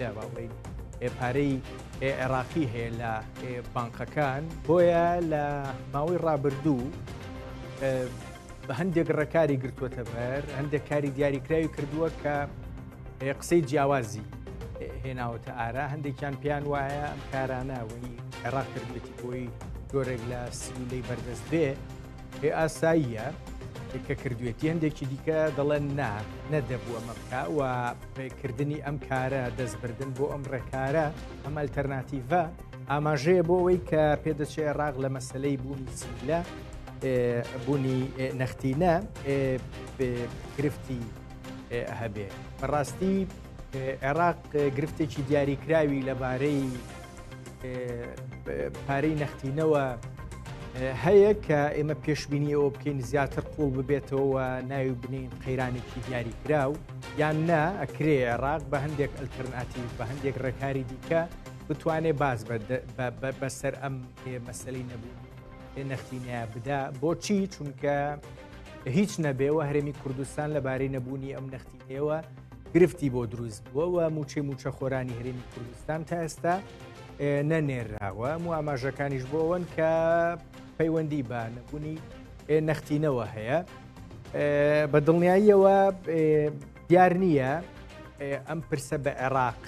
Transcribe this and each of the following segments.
لە باڵی پارەی عێراقی هەیە لە بانقەکان بۆیە لە ماوەی ڕابردوو بە هەندێک ڕێکاری گرتووەتە بەر هەندێک کاری دیاریکراوی کردووە کە قسەی جیاوازی هێناوەتە ئارا هەندێکیان پێیان وایە ئەم کارانەوەی عێراق کردێتی بۆی جۆرێک لە سیولەی بەردەست بێ ئێ ئاساییە کە کردوێتی هەندێکی دیکە دەڵێن نا نەدەبوو ئەمە بکە و پێکردنی ئەم کارە دەستبردن بۆ ئەم ڕێکارە ئەم ئەلتەرناتیڤە ئاماژەیە بۆ ئەوەی کە پێدەچێ ڕاغ لە مەسلەی بوونی سیلە بوونی نەختینە گرفتی هەبێ بەڕاستی عێراق گرفتێکی دیاریکراوی لەبارەی پارەی نەختینەوە هەیە کە ئێمە پێشببینی ئەوە بکەین زیاتر قوڵ ببێتەوە ناوی بنین قەیرانێکی دیاری کراو یان نا ئەکرێ عێراق بە هەندێک ئەلتەرناتی بە هەندێک ڕێکاری دیکە بتوانێت باز بەسەر ئەم مەسلەی نەبوو نەختینە بدا بۆچی چونکە هیچ نەبێەوە هەرێمی کوردستان لەبارەی نەبوونی ئەم نەختی ئێوە گرفتی بۆ دروست بووەوە موچەی موچە خۆرانی هەرێمی کوردستان تا ئێستا نەنێراوە و ئاماژەکانیش بۆەوەن کە پەیوەندی بە نەبوونی نەختینەوە هەیە بە دڵنیاییەوە دیار نییە ئەم پرسە بە عێراق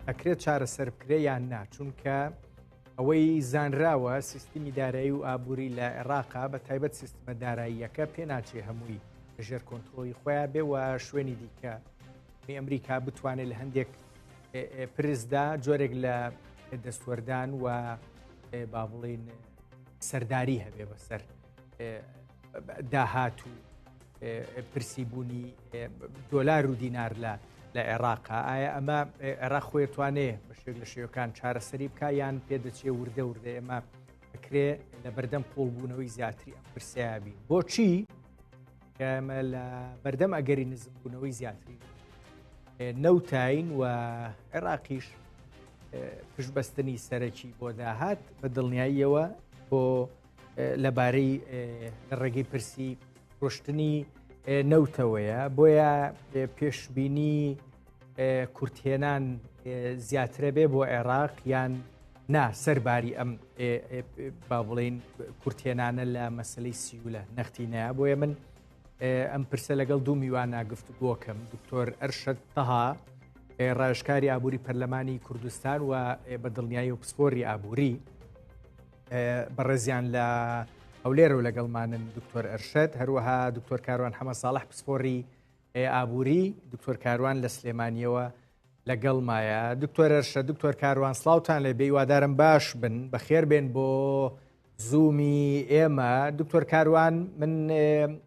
ئەکرێت چارەسەر بکرێ یان نا چونکە ئەوەی زانراوە سیستمی دارایی و ئابووری لە عێراقا بە تایبەت سیستمە داراییەکە پێناچێ هەمووی ژێر کۆنتترۆلی خۆیان بێ و شوێنی دیکە ئەمریکا بتوانێت لە هەندێک پرسدا جۆرێک لە دەستوەردان و با بڵین سەرداری هەبێ بەسەر داهات و پرسی بوونی دۆلار و دینار لە لە عێراقا ئایا ئەمە عێراق خۆی توانێ بە شێک لە شێوەکان چارەسەری بکە یان پێدەچێ وردە وردە ئێمە بکرێ لە بەردەم قوڵبوونەوەی زیاتری ئەم پرسیابی بۆچی کەمە لە بەردەم ئەگەری نزمبوونەوەی زیاتری نەوتین و عێراقیش پشبەستنی سەرەکی بۆ داهات بە دڵنیاییەوە بۆ لەبارەی لە ڕێگەی پرسی ڕشتنی نەوتەوەیە بۆیە پێشببینی کورتێنان زیاترە بێ بۆ عێراق یان نا سەرباری ئەم با بڵین کورتێنانە لە مەسلەی سیولە نەختی نایە بۆیە من ئەم پرسە لەگەڵ دوو میوانە گفتوگۆکەم دکتۆر ئەرشەت تەها ڕێژکاری ئابووری پەرلەمانی کوردستان و بە دڵنیایی و پسپۆری ئابووری بەڕێزیان لە هەولێر و لەگەڵمانن دکتۆر ئەرشد هەروەها دکتۆر کاروان حەمە ساڵح پسپۆری ئابووری دکتۆر کاروان لە سلێمانیەوە لەگەڵ مایە دکتۆر ئەرشە دکتۆر کاروان سلااوان لێ بێوادارم باش بن بەخێر بێن بۆ زوومی ئێمە دکتۆر کاروان من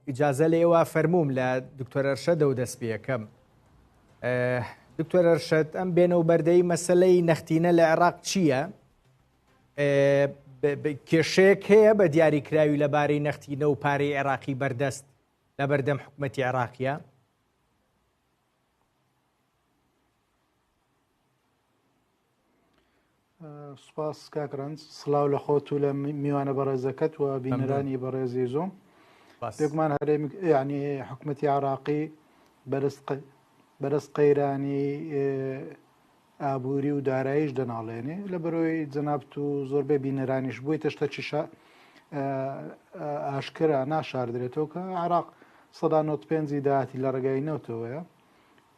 ئیجاازە لێوە فەرموم لە دکتۆر ئەرشە دە و دەست پێەکەم دکتۆر ئەرشد ئەم بێنە و بەردەی مەسلەی نەختینە لە عێراق چییە؟ کێشەیەک هەیە بە دیاریکراوی لەبارەی نەختینە و پارەی عێراقی بەردەست لە بەردەم حکوومەتتی عێراقیە سپاس کاکرنج سلااو لە خۆت و لە میوانە بەڕێزەکەت و بینەرانی بەڕێزی زۆم بێکمان هەرێم ینی حکوومەتتی عراقی بەرز قەیرانی ئابوری و دارایش دەناڵێنێ لە بەرۆی جەنابت و زۆربەی بینەرانیش بوویتە شتە چیشە ئاشکرا ناشاردرێتەوە کە عراق سەدا نۆت پێنجی داهاتی لە ڕێگای نەوتەوەیە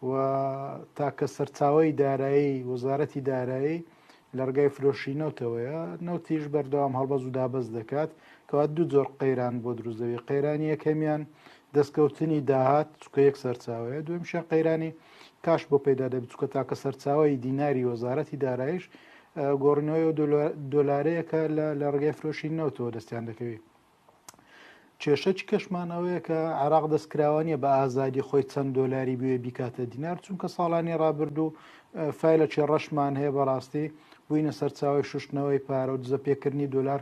و تاکە سەرچاوی دارایی وەزارەتی دارایی لە ڕگای فرۆشی نەوتەوەیە نەوتیش بەردەوام هەڵبەز و دابەز دەکات کەوا دوو جۆر قەیران بۆ دروزەوی قەیرانی یەکەمیان دەستکەوتنی داهات چکە یەک سەرچاوەیە دوێمشە قەیرانی کاش بۆ پەیدا دەبێت چکە تاکە سەرچاوی دیناری وەزارەتی دارایش گۆڕنەوەی و دۆلارەیەکە لە ڕگەی فرۆشی نەوتەوە دەستیان دەکەوێت کێشە چ کەشمانەوەیە کە عراق دەستکراوانە بە ئازادی خۆی چەند دۆلاری بوێ بیکاتە دینار چونکە ساڵانی ڕابردوو فیلە چێ ڕەشمان هەیە بەڕاستی بووینە سەرچاوی شوشتنەوەی پارە و دزە پێکردنی دلار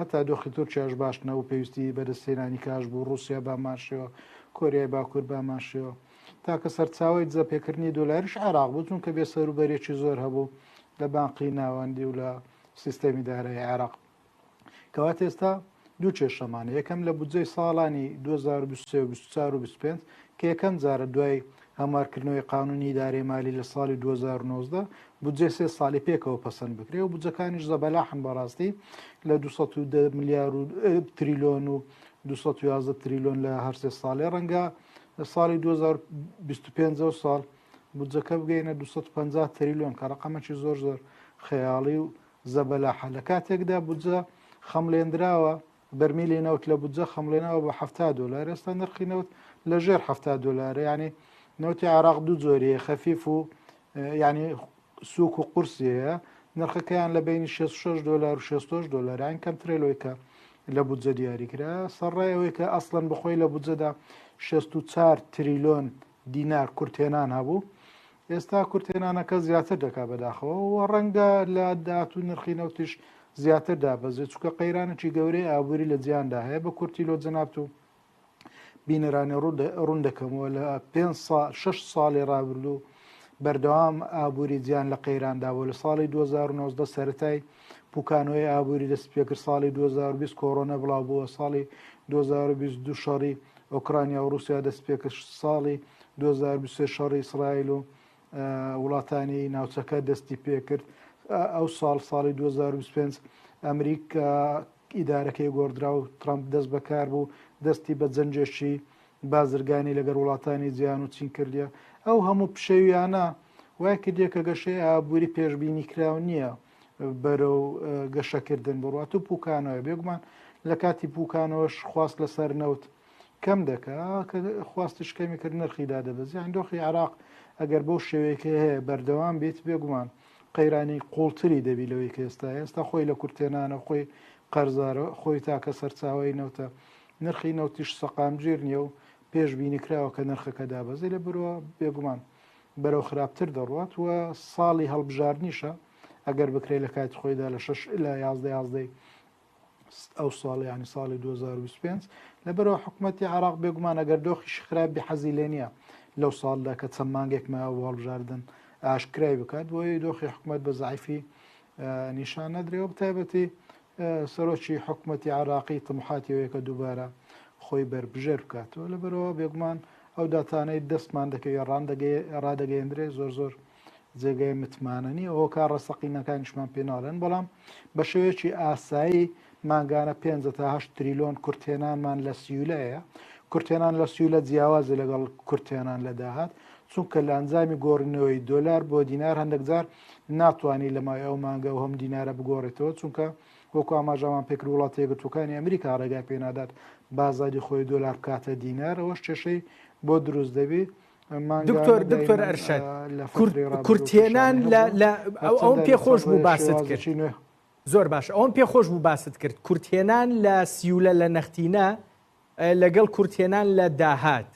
هەتا دۆخی تورکیاش باش نەبوو پێویستی بەدەستهێنانی کاش بوو ڕووسیا بامانشێوە کۆریای باکوور بامانشێوە تاکە سەرچاوی دزەپێکردنی دۆلاریش عێراق بوو چونکە بێ سەروبەرێکی زۆر هەبوو لە بانقی ناوەندی و لە سیستەمی دارایی عێراق کەوات ئێستا دوو کێشەمانە یەکەم لە بودجەی ساڵانی 2023 و 24 کە یەکەم جارە دوای هەموارکردنەوەی قانونی ئیدارەی مالی لە ساڵی 2019 بودجێ سێ ساڵی پێکەوە پەسەند بکرێ و بودجەکانیش زەبەلاحن بەڕاستی لە 210 ملیار و تریلۆن و 211 تریلۆن لە هەرسێ ساڵێ ڕەنگە لە ساڵی 2025 ساڵ بودجەکە بگەینە 250 تریلۆن کە ڕقەمەکی زۆر زۆر خەیاڵی و زەبەلاحە لە کاتێکدا بودجە خەملێنراوە بەرمیلی نەوت لە بودجە خەمڵێنەوە بە حەفتا دۆلار، ئێستا نرخی نەوت لە ژێر حەفتا دۆلارە، یانی نەوتی عێراق دوو جۆری هەیە خەفیف و یانی سووک و قورسی هەیە، نرخەکەیان لە بینی 66 دۆلار و 66 دۆلاران کەمترە لەوەی کە لە بودجە دیاری کرا، سەرڕای ئەوەی کە ئەسڵەن بەخۆی لە بودجەدا 64 تریلۆن دینار کورتهێنان هەبوو، ئێستا کورتهێنانەکە زیاتر دەکات بەداخەوە و ڕەنگە لە داهات و نرخی نەوتیش زیاتر دابەزێت چکە قەیرانێکی گەورەی ئابووری لە جیاندا هەیە بە کورتی لۆ جەنابت و بینەرانی ڕوون دەکەمەوە لە پێ شش ساڵی ڕابردوو بەردەوام ئابووری جیان لە قەیراندا بۆ لە ساڵی 2009 سەتای پوکانەوەی ئابووری دەست پێکرد ساڵی 2020 کۆرۆنە بڵاو بووە ساڵی 2022 شەڕی ئۆکرانیا و رووسیا دەست پێکرد ساڵی دوو هەزار و بیست و سێ شەڕی ئیسرائیل و وڵاتانی ناوچەکە دەستی پێکرد ئەو ساڵ ساڵی 2025 ئەمریکا ئیدارەکەی گۆڕدرا و ترامپ دەست بەکار بوو دەستی بە جەنجێکی بازرگانی لەگەر وڵاتانی جیان و چین کردە ئەو هەموو پشێویانە وای کردێک کە گەشەی ئابووری پێشببینی کراو نییە بەرە و گەشەکردن بڕات و پوکانەوە بێگومان لە کاتی پوکانەوەش خواست لەسەر نەوت کەم دەکا کە خواستش کەمی کرد نرخی دادەبەزی ئەندۆخی عراق ئەگەر بۆ شێوەیەکە هەیە بەردەوام بێت بێگومان قەیرانی قوڵتری دەبی لەوەی کە ئێستا ئێستا خۆی لە کورتێنانە خۆی قەرزارە خۆی تاکە سەرچاوی نەوتە نرخی نەوتیش سەقامگیر نییە و پێش بینیکراوە کە نرخەکە دابەزی لە برەوە بێگومان بەرەو خراپتر دەڕوات و ساڵی هەڵبژاردنیشە ئەگەر بکرێت لە کاتی خۆیدا لە 6 لە 11 11 ئەو ساڵ ینی ساڵی 2025 لەبەرەوە حکوومەتتی عراق بێگومان ئەگەر دۆخیش خراپ بی حەزی لێ نییە لەو ساڵدا کە چەند مانگێک ما واڵبژاردن ئاشکرای بکات بۆیە دۆخی حکوومەت بە زعیفی نیشان نەدرێەوە بتایبەتی سەرۆکی حکوومەتتی عراقی تمحاتیەوەیەکە دووبارە خۆی بەربژێر بکاتەوە لەبەرەوە بێگومان ئەو داتانەی دەستمان دەکەوێت ڕاندەگەی ڕادەگەیەندرێ زۆر زۆر جێگای متمانە نیە هۆکار ڕەسەقینەکانیشمان پێ ناڵێن بەڵام بە شێوەیەکی ئاسایی مانگانە 5 تاهش تریلۆن کورتێنانمان لە سیولەیە کورتێنان لە سیولە جیاوازە لەگەڵ کورتێنان لە داهات چونکە لە ئەنجامی گۆڕینەوەی دۆلار بۆ دینار هەندێکجار ناتوانانی لە مای ئەو مانگە و هەم دینارە بگۆڕێتەوە چونکە وەکو ئاماژامان پێکرد وڵاتە یەکگرتوەکانی ئەمریکا ڕێگای پێنادات بازاری خۆی دۆلار بکاتە دینار ئەوەش کێشەی بۆ دروست دەبێت دکتۆر دکتۆر ئەرشەد کورتێنان لە ئەوم پێ خۆش بوو باست کرد زۆر باش ئەوم پێ خۆش بوو باست کرد کورتێنان لە سیولە لە نەختینە لەگەڵ کورتێنان لە داهات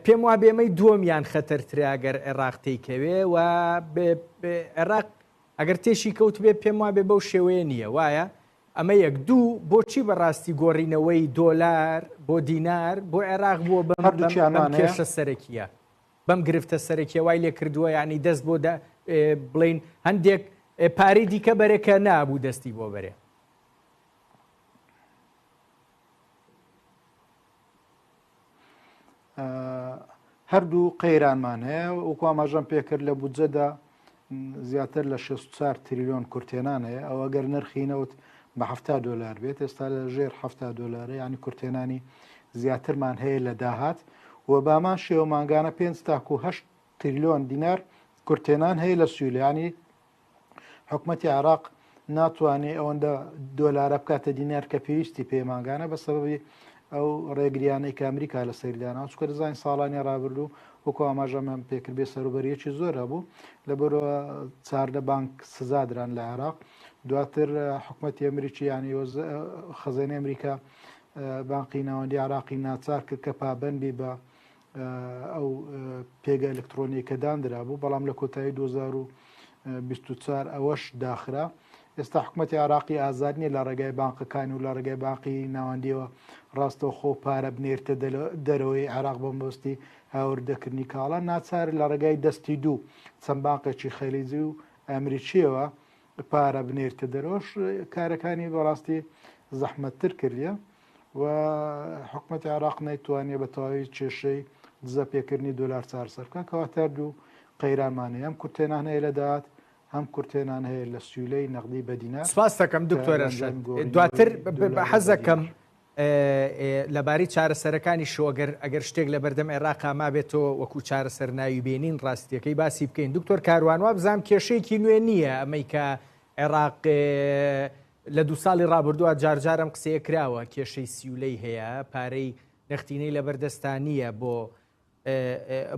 پێم وا بێمەی دووەمیان خەتەرتراگەر عێراق تێکەوێ و عێراق ئەگەر تێشی کەوت بێ پێم وا بێ بەو شێوەیە نییە وایە ئەمە یەک، دوو، بۆچی بە ڕاستی گۆڕینەوەی دۆلار بۆ دینار بۆ عێراق بووە بەم هەردووکیان بەم مانەیە کێشە سەرەکییە، بەم گرفتە سەرەکییە وای لێ کردووە یانی دەست بۆ دە ئێ، بڵێین هەندێک ئێ، پارەی دیکە بەرێ کە نابوو دەستی بۆ بەرێ. هەردوو قەیرانمان هەیە وەکو ئاماژەم پێکرد لە بودجەدا زیاتر لە 64 تریلیۆن کورتێنان هەیە ئەو ئەگەر نرخینەوت بە ه دلار بێت ئێستا لە ژێر ه دلار ینی کورتێنانی زیاترمان هەیە لە داهات و بامان شێوە ماگانە پێ تاکوه تریلیۆن دینار کورتێنان هەیە لە سویلانی حکومەتی عێراق ناتوانێت ئەوەندە دۆلارە بکاتە دینار کە پێویستی پێ ماگانە بە سەبەبی ئەو ڕێگریانەی کە ئەمریکا لە سەیردانە چکە دەزانین ساڵانی ڕابردوو وەکو ئاماژەمان پێکرد بێ سەروبەریەکی زۆر هەبوو لە بەرە چاردە بانک سزادران لە عێراق دواتر حکوومەتی ئەمریکی ینی خەزێنی ئەمریکا بانقی ناوەندی عراقی ناچار کرد کە پابندی بە ئەو پێگە ئەلکترۆنیە کە داندرابوو بەڵام لە کۆتایی 2024 ئەوەش داخرا ئێستا حکوومەتتی عراقی ئازاد نیە لە ڕێگای بانقەکان و لە ڕێگای باقی ناوەندیەوە ڕاستە خۆ پارە بنێرتە دەرەوەی عراق بە مەستی هاوردەکردنی کاڵە ناچار لە ڕێگای دەستی دوو چەند باقێکی خەلیزی و ئەمریکیەوە پارە بنێرتە دەرەوەش کارەکانی بەڕاستی زەحمەتتر کردە و حکوومەتی عراق نەیتوانێ بە تەواوی کێشەی دزە پێکردنی دلار چارسەرکە کەواتە دوو قەیرامانەیە ئەم کورتێنان هەیە لە داات هەم کورتێنان هەیە لە سیولەی نەقدی بەدینا سپاس دەکەم دکتۆرە دواتر حەزەکەم لەبارەی چارەسەرەکانیشەوە گەر ئەگەر شتێک لەبەردەم عێراقا مابێتەوە وەکو چارەسەر ناوی بێنین ڕاستیەکەی باسی بکەین دکتۆر کاروان وابزانم کێشەیەکی نوێ نییە ئەمەی کە عێراق لە دو ساڵی ڕابردووە جارجارم قسەیە کراوە کێشەی سیولەی هەیە پارەی نەختینەی لەبەردەستانیە بۆ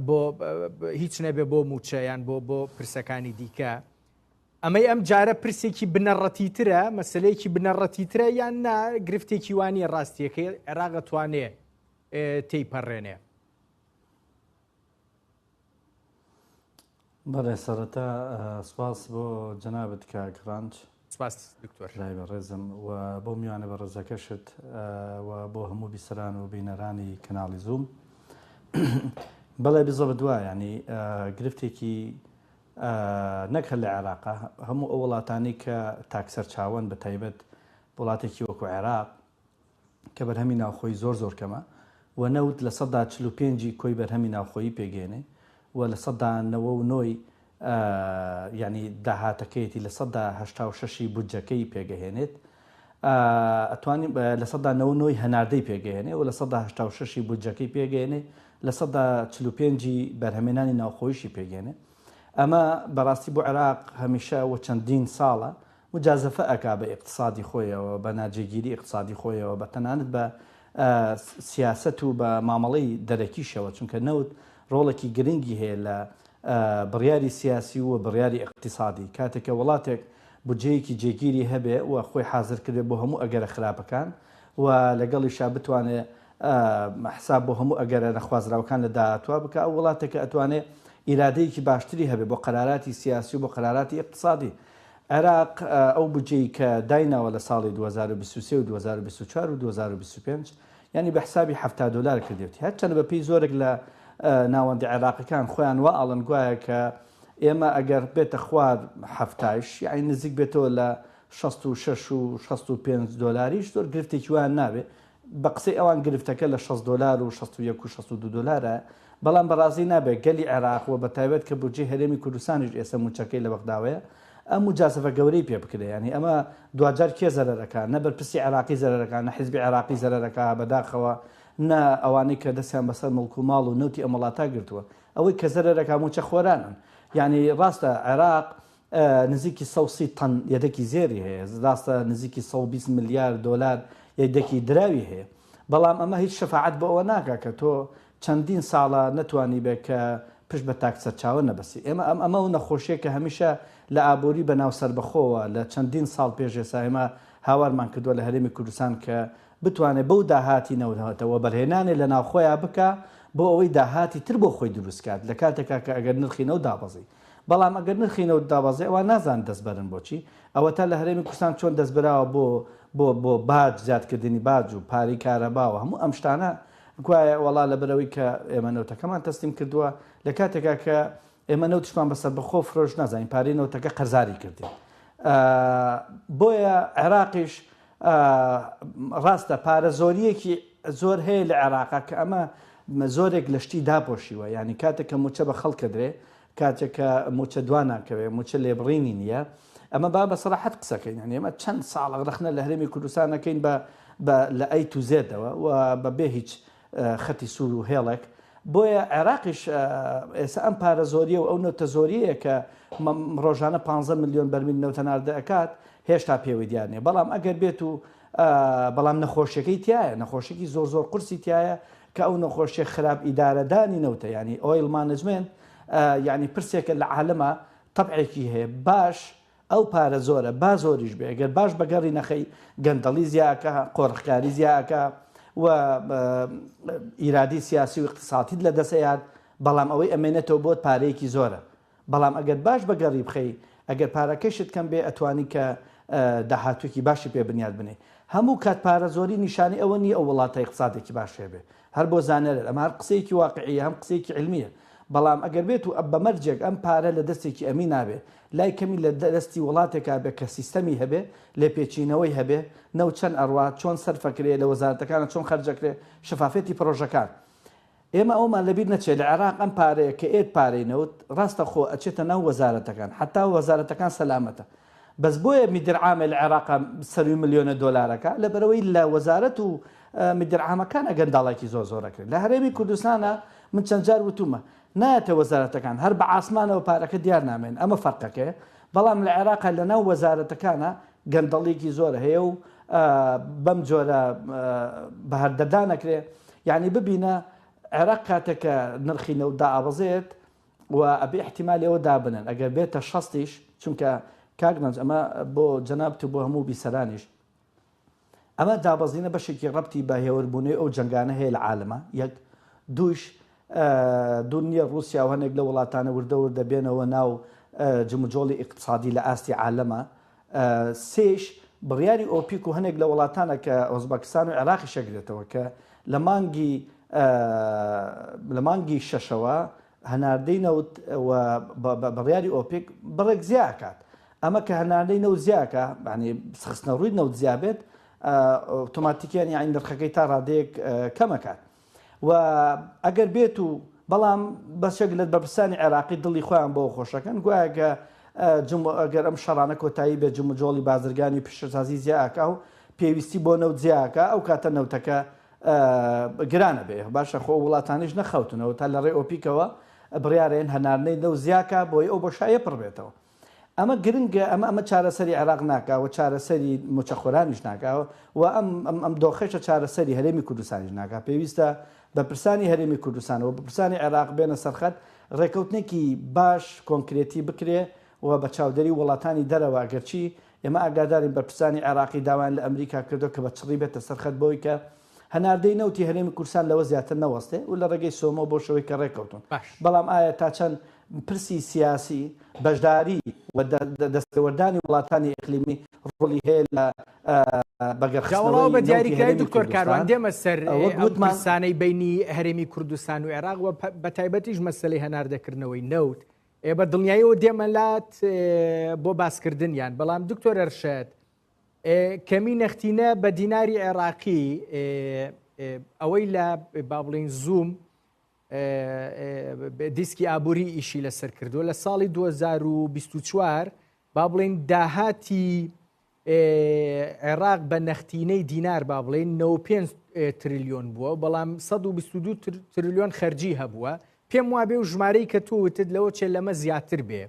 بۆ هیچ نەبێ بۆ موچە یان بۆ بۆ پرسەکانی دیکە ئەمەی ئەم جارە پرسێکی بنەڕەتی ترە مەسلەیەکی بنەڕەتی ترە یان نا گرفتێکی وانە ڕاستیەکەی عێراقە توانێ تێیپەڕێنێ بەڵێ سەرەتا سپاس بۆ جەنابت کاک ڕەنج. سپاس دکتۆر. برای بەڕێزم و بۆ میوانە بەڕێزەکەشت و بۆ هەموو بیسەران و بینەرانی کەناڵی زووم. بەڵێ بزەبت وایە یعنی گرفتێکی نەک هەر لە عێراقە هەموو ئەو وڵاتانی کە تاک سەرچاوەن بە تایبەت وڵاتێکی وەکو عێراق کە بەرهەمی ناوخۆیی زۆر زۆر کەمە و نەوت لە سەدا چل و پێنج ی کۆی بەرهەمی ناوخۆیی پێگەیەنێ و لە سەدا نەوە و نۆ ی یانی داهاتەکەیەتی لە سەدا هەشتا و شەش ی بودجەکەی پێگەهێنێت ئەتوانی لە سەدا نەوە و نۆ ی هەناردەی پێگەیەنێ و لە سەدا هەشتا و شەش ی بودجەکەی پێگەیەنێ لە سەدا چل و پێنج ی بەرهەمێنانی ناوخۆیشی پێگەێنێ ئەمە بەڕاستی بۆ عێراق هەمیشە و چەندین ساڵە موجازەفە ئەکا بە ئیقتسادی خۆیەوە بە ناجێگیری ئیقتسادی خۆیەوە بە تەنانەت بە سیاسەت و بە مامەڵەی دەرەکیشەوە چونکە نەوت ڕۆڵەکی گرنگی هەیە لە بڕیاری سیاسی و بڕیاری ئیقتیسادی کاتێک کە وڵاتێک بودجەیەکی جێگیری هەبێ و خۆی حازر کردێ بۆ هەموو ئەگەرە خراپەکان و لەگەڵیشا بتوانێ حساب بۆ هەموو ئەگەرە نەخوازراوەکان لە داهاتوە بکە ئەو وڵاتێکە ئەتوانێ ئیرادەیەکی باشتری هەبێ بۆ قەراراتی سیاسی و بۆ قەراراتی ئیقتسادی عێراق ئەو بودجەی کە دایناوە لە ساڵی دوو هەزار و بیست و سێ و دوو هەزار و بیست و چوار و دوو هەزار و بیست و پێنج یانی بە حسابی حەفتا دۆلار کردیەتی هەرچەندە بە پێی زۆرێک لە ناوەندە عێراقیەکان خۆیان وا ئەڵن گوایە کە ئێمە ئەگەر بێتە خوار حەفتایش یانی نزیک بێتەوە لە شەست و شەش و شەست و پێنج دۆلاریش زۆر گرفتێکی وایان نابێ بە قسەی ئەوان گرفتەکە لە شەست دۆلار و شەست و یەک و شەست و دوو دۆلارە، بەڵام بەڕازی نابێت گەلی عێراق و بەتایبەت کە بودجەی هەرێمی کوردستانیش ئێستا مووچەکەی لە بەغداوەیە، ئەم موجازەفە گەورەی پێ بکرێت، یانی ئەمە دواجار کێ زەرەر ئەکا، نە بەرپرسی عێراقی زەرەر ئەکا، نە حیزبی عێراقی زەرەر ئەکا بەداخەوە، نە ئەوانەی کە دەستیان بەسەر موڵک و ماڵ و نەوتی ئەم وڵاتە گرتووە، ئەوەی کە زەرەر ئەکا مووچەخۆرانن، یانی ڕاستە عێراق نزیکی سەد و سی تەن یەدەکی زێری هەیە، راستە نزیکی سەد و بیست ملیار دۆلار یەدەکی دراوی هەیە، بەڵام ئەمە هیچ شەفاعەت بۆ ئەوە ناکات کە تۆ چەندین ساڵە نەتوانیبێت کە پشت بە تاک سەرچاوە نەبەستی. ئێمە ئەم ئەمە و نەخۆشییە کە هەمیشە لە ئابووری بە ناو سەربەخۆوە لە چەندین ساڵ پێش ئێسا ئێمە هاوارمان کردووە لە هەرێمی کوردستان کە بتوانێت بەو داهاتی نەوتە وەبەرهێنانێ لە ناو خۆیان بکات بۆ ئەوەی داهاتی تر بۆ خۆی دروست کات لە کاتێکا کە ئەگەر نرخی نەوت دابەزی. بەڵام ئەگەر نرخی نەوت دابەزێ ئەوا نازانن دەست بەرن بۆ چی؟ ئەوەتا لە هەرێمی کوردستان چۆن دەست براوە بۆ بۆ بۆ باج زیاد کردنی باج و پارەی کارەبا و هەموو ئەم شتانە گوایە وەڵا لەبەر ئەوەی کە ئێمە نەوتەکەمان تەسلیم کردووە لە کاتێکا کە ئێمە نەوتشمان بە سەربەخۆ فرۆش نازانین پارەی نەوتەکە قەرزاری کردین بۆیە عێراقیش ڕاستە پارە زۆریەکی زۆر هەیە لە عێراقا کە ئەمە زۆرێک لە شتی داپۆشیوە یانی کاتێک کە موچە بە خەڵک کەدرێ کاتێک کە موچە دوا ناکەوێ موچە لێبڕینی نییە ئەمە با بە سەراحەت قسەکەین یانی ئەمە چەند ساڵە ڕەخنە لە هەرێمی کوردستان ئەکەین بە بە لە ئەی تو زێدەوە و بە بێ هیچ خەتی سوور و هێڵێک بۆیە عێراقیش ئێستا ئەم پارە زۆریە و ئەو نەوتە زۆریەیە کە ڕۆژانە 15 ملیۆن بەرمیل نەوتە ناردە ئەکات هێشتا پێوەی دیار نیە بەڵام ئەگەر بێت و بەڵام نەخۆشیەکەی تایە نەخۆشیی زۆر زۆر قرسی تایە کە ئەو نەخۆشیە خراپ ئیدارەدانی نەوتە ینی ئۆیل مانجمنت ینی پرسێکە لە عالەمە طبعێکی هەیە باش ئەو پارە زۆرە با زۆریش بێ گەر باش بەگەڕی نەخەی گەندەڵی زیا ئەکا قۆرخکاری زیا ئەکا و ئیرادی سیاسی و اقتصاتیت لە دەس ئەیات بەڵام ئەوەی ئەمێنێتەوە بۆت پارەیەکی زۆرە بەڵام ئەگەر باش بەگەڕی بخەی ئەگەر پارەکەشت کەم بێ ئەتوانی کە داهاتوویەکی باشی پێ بنیات بنێی هەموو کات پارە زۆری نیشانی ئەوە نییە ئەو وڵاتە اقتصادێکی باش هەبێ هەر بۆ زانەرر ئەمە هەر قسەیەکی واقعیە هەم قسەیەکی علمیە بەڵام ئەگەر بێت و بە مەرجێک ئەم پارە لە دەستێکی ئەمینا بێ لای کەمی لە دەستی وڵاتێکا بێ کە سیستەمی هەبێ لێپێچینەوەی هەبێ نەوت چەند ئەڕوا چۆن سەرفەکرێ لە وەزارەتەکانا چۆن خەرجەکرێ شەفافیەتی پڕۆژەکان ئێمە ئەومان لەبیر نەچێ لە عێراق ئەم پارەیە کە ئێت پارەی نەوت ڕاستە خۆ ئەچێتە ناو وەزارەتەکان حەتا وەزارەتەکان سەلامەتە بەس بۆیە میدر عامە لە عێراقە سەروی ملیۆنە دۆلارەکە لەبەرەوەی لە وەزارەت و میدر عامەکانە گەنداڵایکی زۆر زۆر ئەکرێت لە هەرێمی کوردستانە من چەند جار وتومە نایەتە وەزارەتەکان هەر بە عاسمانەوە پارەکە دیار نامێن ئەمە فەرقەکەیە بەڵام لە عێراقە لەناو وەزارەتەکانە گەندەڵیکی زۆر هەیە و بەم جۆرە بەهەردەدانەکرێ یعنی ببینە عێراق کاتێکە نرخی نەوت دائابەزێت و ئەبێ ئیحتیمالی ئەوە دابنێن ئەگەر بێتە شەستیش چونکە کاک مەنج ئەمە بۆ جەنابت و بۆ هەموو بیسەرانیش ئەمە دابەزینە بەشێکی ڕەبتی بە هێوربوونەوەی ئەو جەنگانە هەیە لە عالەما یەک دووش دوور نییە ڕووسیا و هەندێک لە وڵاتانە وردە وردە بێنەوە ناو جموجۆڵی ئیقتسادی لە ئاستی عالەما سێیش بڕیاری ئۆپیک و هەنێک لە وڵاتانە کە ئۆزبەکستان و عێراقیش ئەگرێتەوە کە لە مانگی لە مانگی شەشەوە هەناردەی نەوت و بە بڕیاری ئۆپیک بڕێک زیا ئەکات ئەمە کە هەناردەی نەوت زیاکە یعنی خستنە ڕووی نەوت زیا بێت ئۆتۆماتیکیان یعنی نرخەکەی تا ڕادەیەک کەم ئەکات و ئەگەر بێت و بەڵام بەشێک لە بەرپرسانی عێراقی دڵی خۆیان بەوە خۆشەکەن گوایە کە ئەگەر ئەم شەڕانە کۆتایی بێت جموجۆڵی بازرگانی و پیشەسازی زیاکە و پێویستی بۆ نەوت زیاکە ئەو کاتە نەوتەکە گرانە بێ باشە خۆ وڵاتانیش نەخەوتنەوە تا لە ڕێ ئۆپیکەوە بڕیارێن هەناردنەی نەوت زیاکە بۆی ئەو بۆشایە پڕبێتەوە ئەمە گرنگە ئەمە ئەمە چارەسەری عێراق ناکا و چارەسەری موچەخۆرانیش ناکا و ئەم ئەم ئەم دۆخەشە چارەسەری هەرێمی کوردستانیش ناکا پێویستە بەپرسانی هەرێمی کوردستان و بەپرسانی عێراق بێنە سەرخەت ڕێکەوتنێکی باش کۆنکرێتی بکرێ و بە چاودێری وڵاتانی دەرەوە گەرچی ئێمە ئاگادارین بەرپرسانی عێراقی داوایان لە ئەمریکا کردوە کە بە چڕی بێتە سەرخەت بۆوەی کە هەناردەی نەوتی هەرێمی کوردستان لەوە زیاتر نەوەستێ و لە ڕێگەی سۆمۆ بۆ شەوەی کەڕێ کەوتوون، بەڵام ئایا تا چەند پرسی سیاسی، بەشداری و دەستێوەردانی وڵاتانی ئیقلیمی ڕۆڵی هەیە لە بەگەڕخستنەوەی نەوتی هەرێمی کوردستان؟ وەک وتمان. کەمی نەختینە بە دیناری عێراقی ئەوەی لە با بڵین زووم دیسکی ئابووری ئیشی لەسەر کردووە لە ساڵی 2024 با بڵین داهاتی عێراق بە نەختینەی دینار با بڵێن 95 تریلیۆن بووە بەڵام 122 تریلیۆن خەرجی هەبووە پێم وابێ و ژمارەی کە تووتت لەوە چێ لەمە زیاتر بێ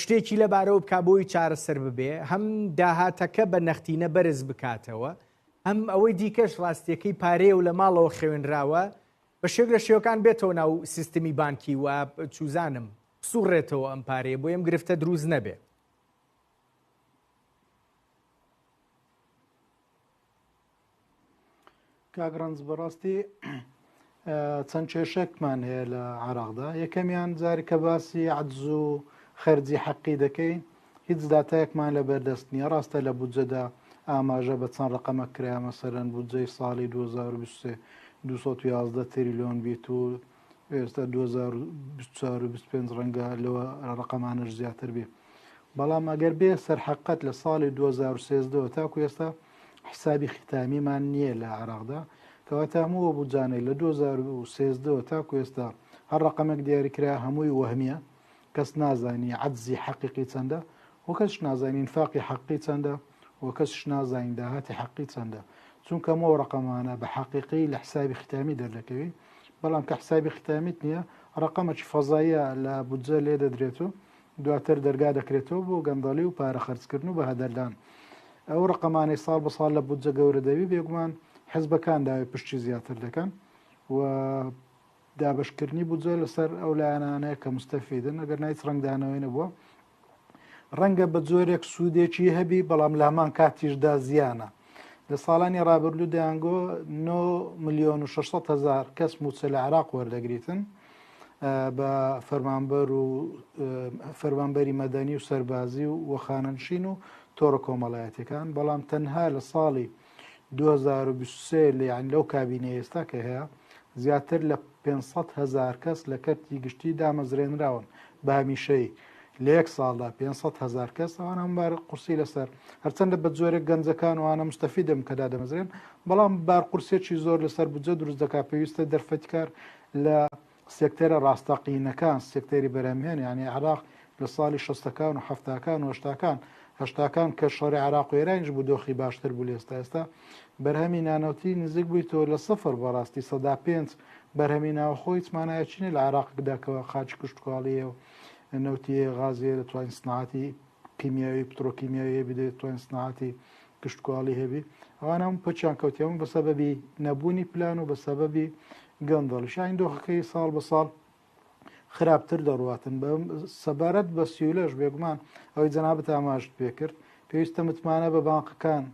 شتێکی لەبارەوە بکات بۆی چارەسەر ببێ هەم داهاتەکە بە نەختینە بەرز بکاتەوە هەم ئەوەی دیکەش ڕاستیەکەی پارەیە و لە ماڵەوە خەوێنراوە بە شێک لە شێوەکان بێتەوە ناو سیستمی بانکی و چوزانم سوڕێتەوە ئەم پارەیە بۆ ئەم گرفتە دروست نەبێ کاک ڕەنج بەڕاستی چەند کێشەکمان هەیە لە عراقدا یەکەمیان جاری کە باسی عدز و خەرجی حەقی دەکەی هیچ داتایەکمان لە بەردەست نییە ڕاستە لە بودجەدا ئاماژە بە چەند ڕقەمە کرایە مەسەرەن بودجەی ساڵی 2023 211 تریلیۆن بیت و ئێستا 2024 و 25 ڕەنگە لەوە ڕقەمانەش زیاتر بێ بەڵام ئەگەر بێ سەرحەقەت لە ساڵی 2013ەوە تاکو ئێستا حسابی ختامیمان نییە لە عراقدا کەواتە هەمووە بودجانەی لە 2013ەوە تاکو ئێستا هەر ڕقەمەک دیاریکرا هەمووی وەهمیە کەس نازانی عەجزی حەقیقی چەندە و کەسش نازانی ئینفاقی حەقیقی چەندە و کەسش نازانی داهاتی حەقیقی چەندە چونکە ئەمەو ڕقەمانە بە حەقیقی لە حسابی ختامی دەردەکەوی بەڵام کە حسابی ختامیت نییە ڕقەمەکی فەزایە لە بودجە لێ دەدرێت و دواتر دەرگا دەکرێتەوە بۆ گەندەڵی و پارە خەرجکردن و بە هەدەردان ئەو ڕقەمانەی ساڵ بە ساڵ لە بودجە گەورە دەوی بێگومان حزبەکان داوای پشتی زیاتر دەکەن و دابەشکردنی بودجە لەسەر ئەو لایەنانەیە کە مستەفیدن ئەگەر نایچ ڕنگدانەوەی نەبووە ڕەنگە بە جۆرێک سوودێکی هەبی بەڵام لامان کاتیشدا زیانە لە ساڵانی ڕابردوو دەیانگۆ 9 میلیۆن و 600 هزار کەس موچە لە عراق وەردەگریتن بە فەرمانبەر و فەرمانبەری مەدەنی و سەربازی و وەخانەنشین و تۆڕە کۆمەڵایەتەکان بەڵام تەنها لە ساڵی 2023 لە یان لەو کابینە ئێستا کە هەیە زیاتر لە 500 هزار کەس لە کەرتی گشتی دامەزرێنراون بە هەمیشەی لە یەک ساڵدا 500 هزار کەس ئەوان ئەم بار قورسی لەسەر هەرچەندە بە زۆرە گەنجەکان وانە مستەفی دەم کەدا دەمەزرێن بەڵام بار قورسێکی زۆر لەسەر بجە دروست دەکات پێویستە دەرفەتکار لە سێکتەرە ڕاستەقینەکان، سێکتەری بەرهەمهێن یانی عێراق لە ساڵی شەستەکان و حەفتاکان و هەشتاکان هەشتاکان کە شەڕی عێراق و ئێرانیش بوو دۆخی باشتر بوو لە ئێستا ئێستا بەرهەمی نانەوتی نزیک بووی تۆ لە سفر بەڕاستی سەدا پێنج بەرهەمی ناوەخۆ هیچ مانایەکی نیە لە عێراقدا کە قاچی کشتوکاڵیە و نەوتیە غازیە دەتوانین سناعەتی کیمیاوی پترۆکیمیاوی هەبی دەتوانین سناعەتی کشتوکاڵی هەبی ئەوان هەموو پەچیان کەوتی هەموو بە سەبەبی نەبوونی پلان و بە سەبەبی گەندەڵی شاین دۆخەکەی ساڵ بە ساڵ خراپتر دەڕاتن بە سەبارەت بە سیولەش بێگومان ئەوەی جەنابەت ئاماژت پێکرد پێویستە متمانە بە بانقەکان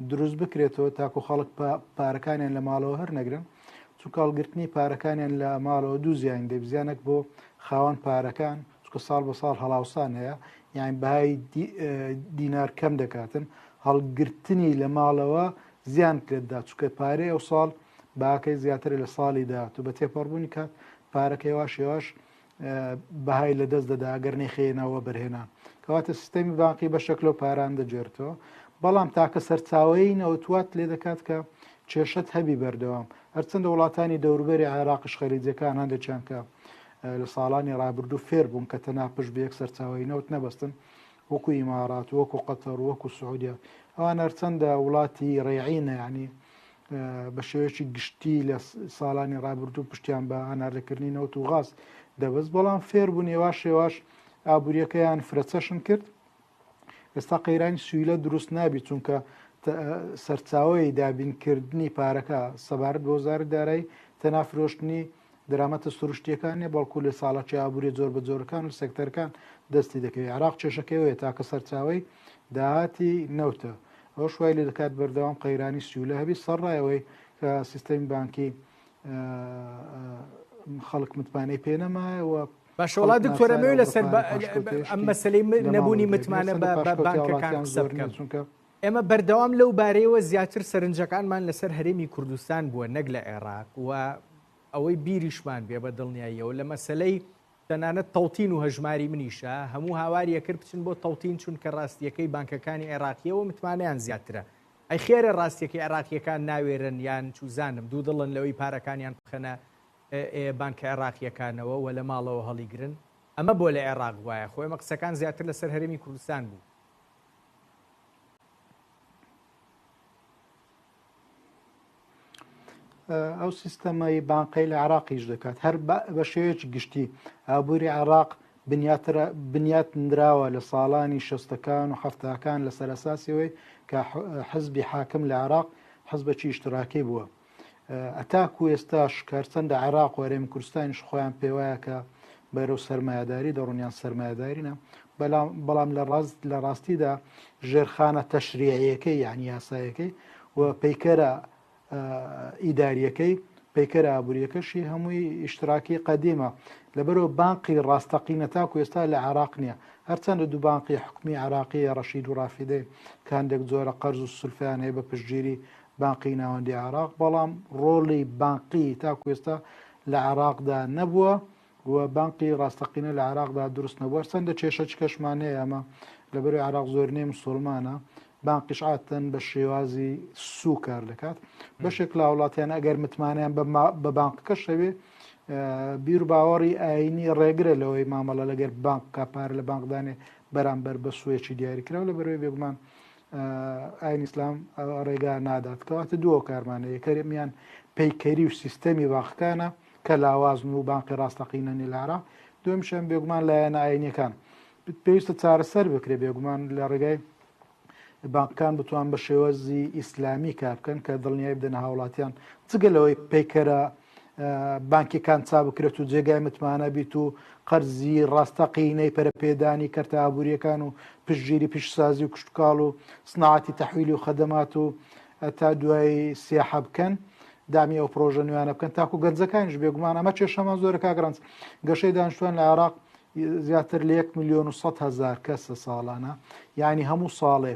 دروست بکرێتەوە تاکو خەڵک پارەکانیان لە ماڵەوە هەر نەگرن چونکە هەڵگرتنی پارەکانیان لە ماڵەوە دوو زیان دەبزیانەک بۆ خاوەن پارەکان چکە ساڵ بە ساڵ هەڵاوسان هەیە یان بەهای دینار کەم دەکاتن هەڵگرتنی لە ماڵەوە زیان کرێتدا چکە پارەی ئەو ساڵ باکەی زیاتر لە ساڵی داات و بە تێپەڕبوونی کات پارەکە هێواش هێواش بەهای لە دەست دەدا گەر نەخێنەوە بەرهێنان کەواتە سیستەمی باقی بە شکل و پاران دەجێرتەوە بەڵام تاکە سەرچاوی نەوتوات لێ دەکات کە کێشت هەبی بەردەوام هەرچەندە وڵاتانی دەوربەری عێراقش خەریجەکان هەندێکیان کە لە ساڵانی ڕابردوو فێر بوون کە تەنها پشت بە یەک سەرچاوەی نەوت نەبەستن وەکو ئیمارات وەکو قەتەر وەکو سعودیا ئەوان هەرچەندە وڵاتی ڕێعینە ینی بە شێوەیەکی گشتی لە ساڵانی ڕابردوو پشتیان بە هەناردەکردنی نەوت و غاز دەبست بەڵام فێر بوون ێوا شێواش ئابوووریەکەیان فرەچەشن کرد ئێستا قەیرانی سویلە دروست نابی چونکە سەرچاوەی دابینکردنی پارەکە سەبارەت بۆ زار دارای تەنافرۆشتنی درامەتە سروشتیەکانە بەڵکو لە ساڵەکی ئابووری زۆر بە زۆرەکان و سەکتەرکان دەستی دەکەوێت عراق چێشەکەوەیە تاکە سەرچاوی داهاتی نەوتە ئەو شوای لە دەکات بەردەوام قەیرانی سیولە هەبی سەرڕایەوەی کە سیستەمی بانکی خەڵک متمانەی پێنەمایەوە باشە وەڵا دکتۆر ئەمەوێ لەسەر ئەم مەسلەی نەبوونی متمانە بە بانکەکان قسە بکەم چونکە ئێمە بەردەوام لەو بارەیەوە زیاتر سەرنجەکانمان لەسەر هەرێمی کوردستان بووە نەک لە عێراق و ئەوەی بیریشمان بێ بە دڵنیاییەوە لە مەسلەی تەنانەت تەوتین و هەژماری منیشە هەموو هاواریە کرد بچن بۆ تەوتین چونکە ڕاستیەکەی بانکەکانی عێراقیەوە متمانیان زیاترە ئەی خێرە ڕاستیەکەی عێراقیەکان ناوێرن یان چوزانم دوو دڵن لەوەی پارەکانیان بخەنە بانکە عێراقییەکانەوە و لە ماڵەوە هەڵیگرن، ئەمە بۆ لە عێراق وایە؟ خۆ ئێمە قسەکان زیاتر لەسەر هەرێمی کوردستان بوو. ئەو سیستەمەی بانقەی لە عراقیش دەکات هەر بە شێوەیەکی گشتی ئابووری عراق بنیات نراوە لە ساڵانی شەستەکان و حفتاکان لە سەرساسیەوەی کە حزبی حاکم لە عراق حزبەکی ئیشتراکی بووە ئەتاکو ئێستا شکارچەند لە عێراق و هەرێمی کوردستانیش خۆیان پێوایە کە بەرەو سەرمایهداری دەڕونیان سەرمایهدارینە بەڵام لە ڕاست لە ڕاستیدا ژێرخانە تەشریعەکەی یان یاسایەکەی و پەیکەرە ئیداریەکەی پەیکەر ئابوووریەکەشی هەمووی ئیشتراکی قەدیمە لەبەرەوە بانقی ڕاستەقینە تاکو ئێستا لە عراق نییە هەرچەندە دوو بانقی حکومی عراقیە ڕەشید و ڕافیدەی کاندێک جۆرە قەرز و سلفیان هەیە بە پشتگیری بانقی ناوەندی عێراق، بەڵام ڕۆڵی بانقی تاکو ئێستا لە عێراقدا نەبووە و بانقی ڕاستەقینە لە عێراقدا دروست نەبووە، هەرچەندە کێشەچکەشمان هەیە ئەمە لەبەرەی عێراق زۆرینەی مسوڵمانە، بانقیش عادەتەن بە شێوازی سوو کار دەکات، بەشێک لە هاوڵاتیان ئەگەر متمانەیان بە بانقەکەش هەبێ بیر و باوەڕی ئاینی ڕێگرە لەوەی مامەڵە لەگەر بانقکە پارە لە بانقدانێ بەرامبەر بە سوویەکی دیاریکراو لە بەرەوەی بێگومان ئاین ئیسلام ڕێگا نادات کەواتە دوو هۆکارمانە یەکەرمیان پەیکەری و سیستەمی باخەکانە کە لاوازن و بانقی ڕاستەقینە نیلارا دومشیان بێگومان لایەنە ئاینەکان پێویستە چارەسەر بکرێ بێگومان لە ڕێگای بانکان بتوان بە شێوەزی ئیسلامی کار بکەن کە دڵنیای بدەنە هاوڵاتیان جگە لەوەی پەیکەرە بانکیەکان چابکرێت و جێگای متمانە بیت و قەرزی ڕاستەقینەی پەرپێدانی کەرتە ئابوووریەکان و پشتگیری پیشسازی و کشتتوکاڵ و سناعاتی تەحویلی و خەدەمات و تا دوای سیاحە بکەن دامی ئەو پرۆژە نوێیانە بکەن تاکو گەنجەکانیش بێگومان ئەمە کێشەمان زۆرە کاگرانس گەشەی دانیشتوان لە عراق زیاتر لە 1 میلیۆن و 100 هزار کەسە ساڵانە یعنی هەموو ساڵێ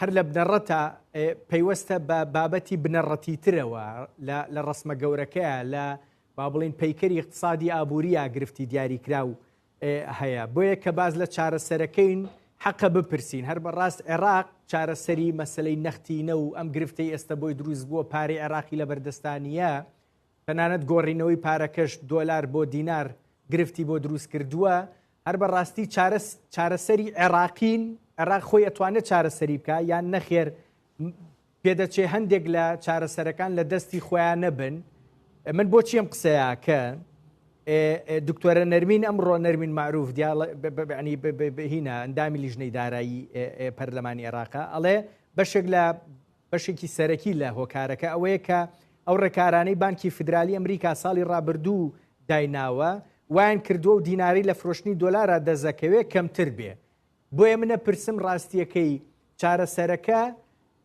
هەر لە بنەڕەتە پەیوەستە بە بابەتی بنەڕەتیترەوە لە ڕسمە گەورەکەیە لە با بڵین پەیکەری اقتصادی ئابووریە گرفتی دیاریکرا و هەیە بۆیە کە باز لە چارەسەرەکەین حەقە بپرسین هەر بەڕاست عێراق چارەسەری مەسلەی نەختینە و ئەم گرفتەی ئێستا بۆی دروست بووە پارەی عێراقی لە بەردەستانیە تەنانەت گۆڕینەوەی پارەکەش دۆلار بۆ دینار گرفتی بۆ دروست کردووە هەر بە ڕاستی چارە چارەسەری عێراقین عێراق خۆی ئەتوانێت چارەسەری بکە یان نەخێر پێدەچێ هەندێک لە چارەسەرەکان لە دەستی خۆیان نەبن من بۆ چیم قسەیە کە دکتۆرە نەرمین ئەمڕۆ نەرمین معروف دیاڵنی هینە ئەندامی لیژنەی دارایی پەرلەمانی عێراقا ئەڵێ بەشێک لە بەشێکی سەرەکی لە هۆکارەکە ئەوەیە کە ئەو ڕێکارانەی بانکی فیدرالی ئەمریکا ساڵی ڕابردوو دایناوە وایان کردووە و دیناری لە فرۆشتنی دۆلارا دەزەکەوێ کەمتر بێ بۆیە منە پرسم ڕاستیەکەی چارەسەرەکە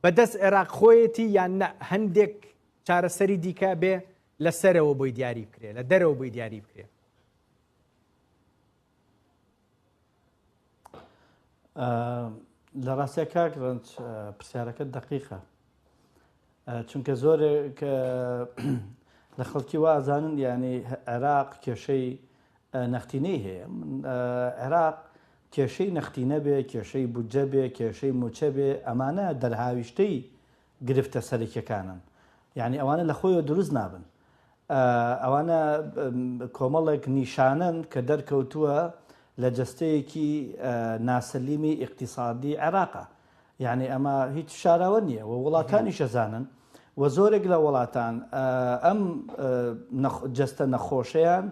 بە دەست عێراق خۆیەتی یان نە هەندێک چارەسەری دیکە بێ لە سەرەوە بۆی دیاری بکرێ لە دەرەوە بۆی دیاری بکرێ لە ڕاستە کاک ڕنج پرسیارەکە دقیقە چونکە زۆرێک لە خەڵکی وازانن یعنی عێراق کێشەی نەختینەی هەیە عێراق کێشەی نەختینە بێ کێشەی بودجە بێ کێشەی موچە بێ ئەمانە دەرهاویشتەی گرفتە سەرەکیەکانن یانی ئەوانە لە خۆیەوە دروست نابن ئەوانە کۆمەڵێک نیشانەن کە دەرکەوتووە لە جەستەیەکی ناسەلیمی ئیقتصادی عێراقە یعنی ئەمە هیچ شاراوە نییە و وڵاتانی شەزانن و زۆرێک لە وڵاتان ئەم جەستە نەخۆشیان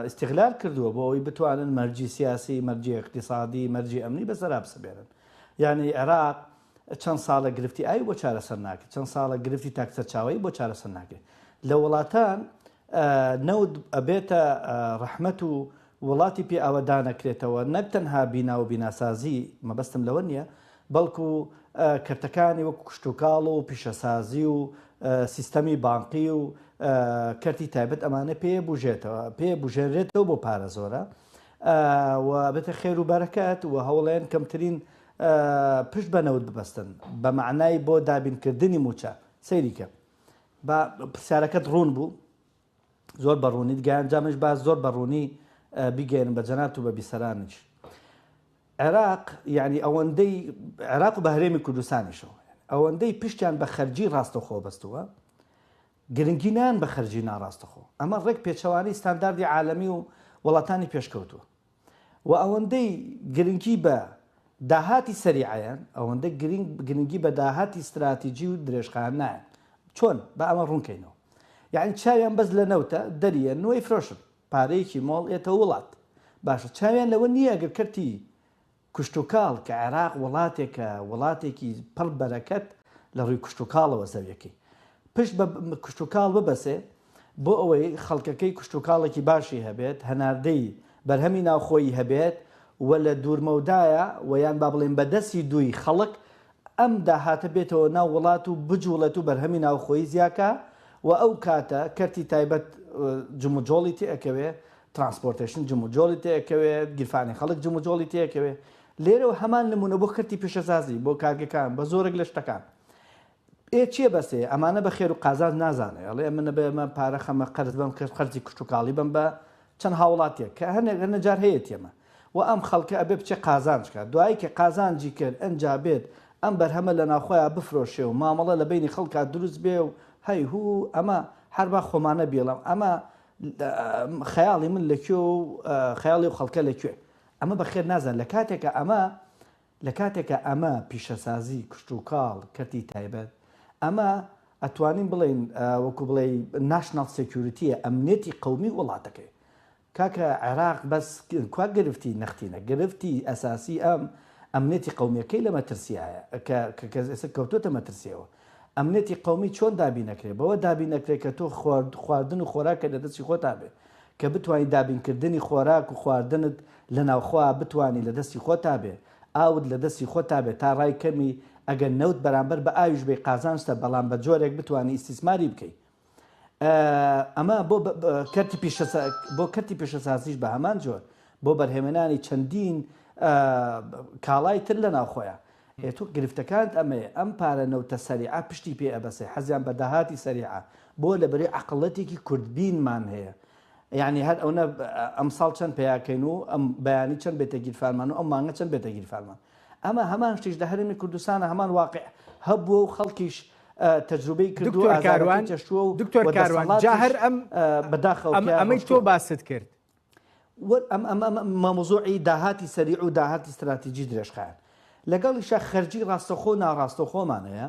استغلال کردووە بۆ ئەوی بتوانن مەرجی سیاسی مەرجی اقتصادی مەرجی ئەمنی بەسەرا بسبێنن یعنی عێراق چەند ساڵە گرفتی ئاوی بۆ چارەسەر ناکرێت چەند ساڵە گرفتی تاک سەرچاوەیی بۆ چارەسەر ناکرێت لە وڵاتان نەوت ئەبێتە ڕەحمەت و وڵاتی پێ ئەوە دانەکرێتەوە نەک تەنها بینا و بیناسازی مەبەستم لەوە نییە بەڵکو کەرتەکانی وەک کوشتتوکاڵ و پیشەسازی و سیستەمی بانقی و کەرتی تایبەت ئەمانە پێ بژێتەوە پێ بژێنرێتەوە بۆ پارە زۆرە و بێتە خێر و بەرەکەت و هەوڵێن کەمترین پشت بە نەوت ببەستن بە مەعنای بۆ دابین کردنی مووچە سەیری کە با پرسیارەکەت ڕوون بوو زۆر بە ڕوونیت گەیان جامش با زۆر بە ڕوونی بیگەێن بە جەنات و بە بیسەرانیش عێراق یعنی ئەوەندەی عێراق و بە هەرێمی کوردستانیشەوە ئەوەندەی پشتیان بە خەرجی ڕاستەخۆ بەستووە گرنگی نان بە خەرجی ناڕاستەخۆ ئەمە ڕێک پێچەوانی ستانداردی عالەمی و وڵاتانی پێشکەوتووە و ئەوەندەی گرنگی بە داهاتی سەریعیان، ئەوەندە گرنگی بە داهاتی ستراتیجی و درێژخایەن نایەن. چۆن با ئەمە ڕوون کەینەوە. یەعنی چاویان بەس لە نەوتە، دەریەن و ئەیفرۆشن. پارەیەکی مۆڵ ئێتە ووڵات. باشە چاویان لەوە نییە ئەگەر کەرتی کشتوکاڵ کە عێراق ووڵاتێکە، ووڵاتێکی پڕ بەرەکەت لە ڕووی کشتوکاڵەوە زەویەکەی پشت بە کشتوکاڵ ببەسێ، بۆ ئەوەی خەڵکەکەی کشتوکاڵێکی باشی هەبێت، هەناردەی بەرهەمی ناوخۆیی هەبێت و لە دوورمەودایە و یان با بڵێین بە دەستی دووی خەڵک ئەم داهاتە بێتەوە ناو وڵات و بجوڵێت و بەرهەمی ناوخۆیی زیاکا و ئەو کاتە کەرتی تایبەت جموجۆڵی تێئەکەوێ، ترانسپۆرتەیشن جموجۆڵی تێئەکەوێ، گیرفانی خەڵک جموجۆڵی تێئەکەوێ. لێرەوە هەمان نموونە بۆ کەرتی پیشەسازی، بۆ کارگەکان، بە زۆرێک لە شتەکان. ئێ چیە بەسێ ئەمانە بە خێرو قازانج نازانێ ئەڵێ ئەمنە بە ئەمە پارە خەمە قەرز بەم کەس قەرزی کشتو کاڵی بەم بە چەند هاوڵاتیەک کە هەنێک هەنە جار هەیەتی ئەمە وە ئەم خەڵکە ئەبێ بچێ قازانج کات دوایی کە قازانجی کرد ئەنجا بێت ئەم بەرهەمە لە ناوخۆیا بفرۆشێ و مامەڵە لە بەینی خەڵکا دروست بێ و هەی هوو ئەمە هەر با خۆمانە بیڵم ئەمە خەیاڵی من لە کوێ و خەیاڵی و خەڵکە لە کوێ ئەمە بە خێر نازان لە کاتێکە ئەمە لە کاتێکا ئەمە پیشەسازی کشتوکاڵ کەرتی تایبەت ئەمە ئەتوانین بڵێین وەکو بڵێ ناشناڵ سێکیورتیە ئەمنێتی قومی وڵاتەکەی کاکە عێراق بەس کوا گرفتی نەختینە گرفتی ئەساسی ئەم ئەمنێتی قومیەکەی لە مەترسیایە کە کەس ئێستا کەوتوتە مەترسیەوە ئەمنیەتی قەومی چۆن دابین ئەکرێ؟ بەوە دابین ئەکرێ کە تۆ خواردن و خۆراکت لە دەستی خۆتا بێ، کە بتوانی دابین کردنی خۆراک و خواردنت لە ناوخۆا بتوانی لە دەستی خۆتا بێ، ئاوت لە دەستی خۆتا بێ تا ڕای کەمی ئەگەر نەوت بەرامبەر بە ئاویش بەی قازانجتە بەڵام بە جۆرێک بتوانی ئیستیسماری بکەی. ئەمە بۆ کەرتی پیشەسازیش بە هەمان جۆر بۆ بەرهەمێنانی چەندین کاڵای تر لە ناوخۆیە. ئێ تۆ گرفتەکانت ئەمەیە، ئەم پارە نەوتە سەریعە پشتی پێ ئەبەسێ، حەزیان بە داهاتی سەریعە، بۆ لەبری عەقڵەتێکی کوردبینمان هەیە، یەعنی هەر ئەونە ئەمساڵ چەند پەیا کەین و ئەم بەیانی چەند بێتە گیرفانمان و ئەم مانگە چەند بێتە گیرفانمان. ئەمە هەمان شتیش لە هەرێمی کوردستانە هەمان واقع هەبووە و خەڵکیش تەجروبەی کردووە دکتۆر کاروان چەشتووە و دکتۆر کاروان جا هەر ئەم بەداخەوە ئەمەی تۆ باست کرد مامۆزۆعی داهاتی سەریع و داهاتی استراتیجی درێژخایەن لەگەڵیشە خەرجی ڕاستەخۆ ناڕاستەخۆمانەیە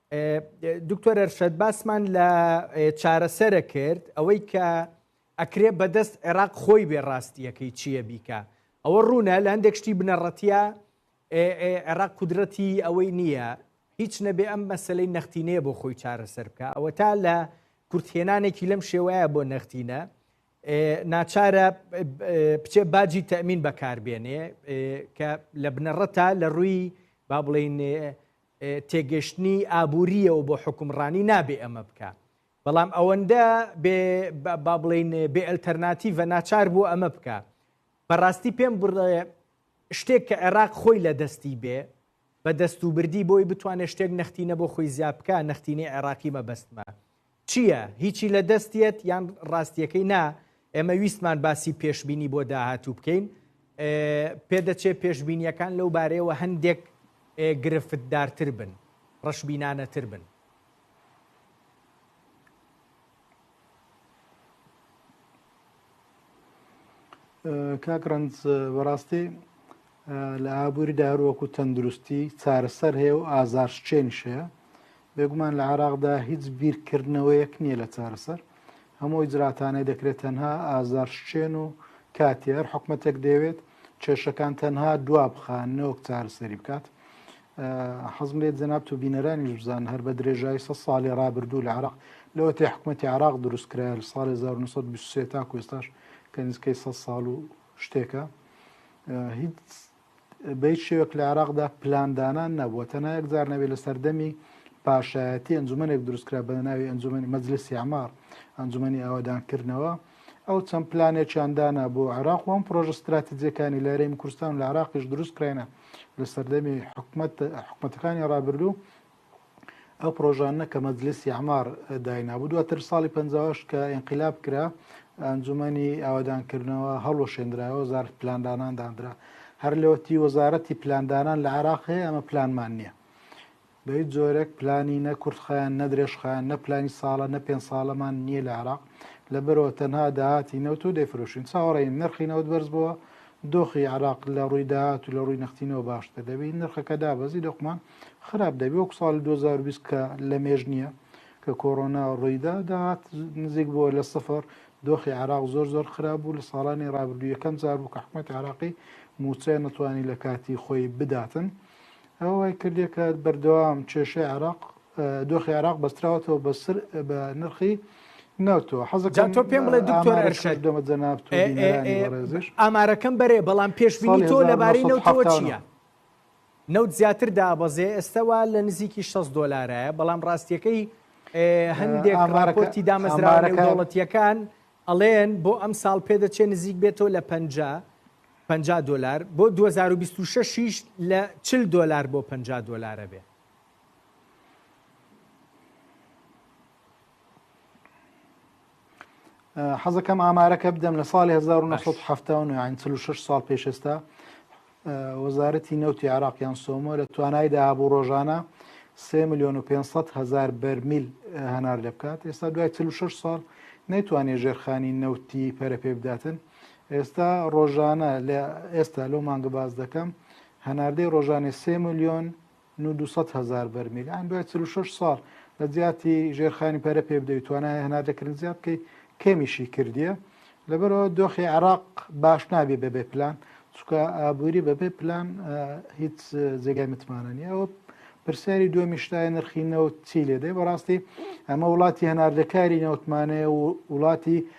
دکتۆر ئەرشەد باسمان لە چارەسەرە کرد ئەوەی کە ئەکرێ بەدەست عێراق خۆی بێ ڕاستیەکەی چییە بیکە ئەوە ڕوونە لە هەندێک شتی بنەڕەتە عێراق قودرەتی ئەوەی نییە هیچ نەبێ ئەم مەسلەی نەختینەیە بۆ خۆی چارەسەر بکە ئەوە تا لە کورتهێنانێکی لەم شێوەیە بۆ نەختینە ناچارە بچێ باجی تەمین بەکاربێنێ کە لە بنەڕەتە لە ڕووی با بڵین تێگەشتنی ئابوورییەوە بۆ حوکمڕانی نابێ ئەمە بکا بەڵام ئەوەندە بێ با بڵین بێ ئەلتەرناتیڤە ناچار بوو ئەمە بکە بەڕاستی پێم بڕێ شتێک کە عێراق خۆی لە دەستی بێ بە دەست و بردی بۆی بتوانێت شتێک نەختینە بۆ خۆی زیابکە نەختینی عێراقی مەبەستمە چیە هیچی لە دەست یەت یان ڕاستیەکەی نا ئێمە ویستمان باسی پێشببینی بۆ داهاتوو بکەین پێدەچێت پێشببینیەکان لەو بارەیەوە هەندێک گرفتدارتر بن ڕەشبینانەتر بن کاک ڕەنج بەڕاستی لە ئابووری داروەک و تەندروستی چارەسەر هەیە و ئازارشچێنیش هەیە بێگومان لە عراقدا هیچ بیرکردنەوەیەک نییە لە چارەسەر هەموو ئیجراتانەی دەکرێت تەنها ئازارشچێن و کاتێر حکومەتێک دەوێت کێشەکان تەنها دوا بخە نۆک چارەسەری بکات حەزم لێت جەناب و بینەرانی بزان هەر بە درێژای سە ساڵی ڕابردوو لە عراق لەوە تێ حکوومەتتی عراق دروست کرا لە ساڵی 1920 تا کوێستاش کە نزیکەی سە ساڵ و شتێکە هیچ بەیت شێوەک لە عراقدا پلاندانان نەبووە تەنها یەکجار نەبێت لە سەردەمی پاشایەتی ئەنجومەنێک دروستکرا بە ناوی ئەنجومی مەجلسی ئەمار ئەنجومی ئاوادانکردنەوە ئەو چەند پلانێکیان دانا بۆ عێراق و ئەم پرۆژە ستراتیجیەکانی لە هەرێمی کوردستان لە عراقیش دروست کراینە لە سەردەمی حکومت حکومەتەکانی ڕابردوو ئەو پرۆژانە کە مەجلیسی ئەمار داینابوو دواتر ساڵی پنجاش کە ئینقلاب کرا ئەنجومەنی ئاوادانکردنەوە هەڵوەشێنراوە زار پلاندانان دانرا هەر لەوەتی وەزارەتی پلاندانان لە عراق هەیە ئەمە پلانمان نییە بە هیچ جۆرێک پلانی نە کورتخایەن نە درێژخایەن نە پلانی ساڵە نە پێنج ساڵەمان نییە لە عێراق لەبەرەوە تەنها داهاتی نەوت و دەیفرۆشین چاوەڕێین نرخی نەوت بەرز بووە دۆخی عێراق لە ڕووی داهات و لە ڕووی نەختینەوە باشتر دەبین نرخەکە دابەزی دۆخمان خراپ دەبی وەک ساڵی 2020 کە لە مێژ نییە کە کۆرۆنا ڕوویدا داهات نزیک بووە لە سفر دۆخی عراق زۆر زۆر خراپ بوو لە ساڵانی ڕابردوو یەکەم جار بوو کە حکوومەت عراقی موچەیە نەتوانی لە کاتی خۆی بداتن ئەوە وای کردیە کە بەردەوام کێشەی عێراق دۆخی عێراق بەستراوەتەوە بە سر بە نرخی نەوتەوە حەزەکان تۆ پێم بڵێ دکتۆر ئەرشەد دەمە جەناب تۆ بینەرانی بەڕێزیش ئامارەکەم بەرێ بەڵام پێشبینی تۆ لەبارەی نەوتەوە چییە؟ نەوت زیاتر دابەزێ ئێستەوە لە نزیکی 6 دۆلارایە بەڵام ڕاستیەکەی هەندێک ڕاپۆرتی دامەزراوەکە دەوڵەتیەکان ئەڵێن بۆ ئەم ساڵ پێدەچێ نزیک بێتەوە لە پەنجا پەنجا دۆلار بۆ دوو هەزار و بیست و شەش یش لە چل دۆلار بۆ پەنجا دۆلار ئەبێ. حەزەکەم ئامارەکە بدەم لە ساڵی 1970 ساڵ پێشستا وەزارەتی نەوتی عراقیان سۆمۆ لە توانای داهابوو ڕۆژانە 3 میلیۆن و 500 هزار بەرمیل هەنار لێ بکات ئێستا دوای 46 ساڵ نەیتوانێت ژێرخانی نەوتی پەرە پێ بداتن ئێستا ڕۆژانە لە ئێستا لەو مانگە باز دەکەم هەناردەی ڕۆژانێ سێ میلیۆن 200 هزار بەرمیل ئەم دوای 36 ساڵ لە جیاتی ژێرخانی پەرە پێ بدەیت توانای هەناردەکردن زیاد بکەی کەمیشی کردیە لەبەرەوە دۆخی عراق باش نابێ بەبێ پلان چکە ئابووری بەبێ پلان هیچ جێگای متمانە نیە ئەوە پرسیاری دووە میشتای نرخی نەوت چی لێدەی بەڕاستی ئەمە وڵاتی هەناردەکاری نەوتمانەیە و وڵاتی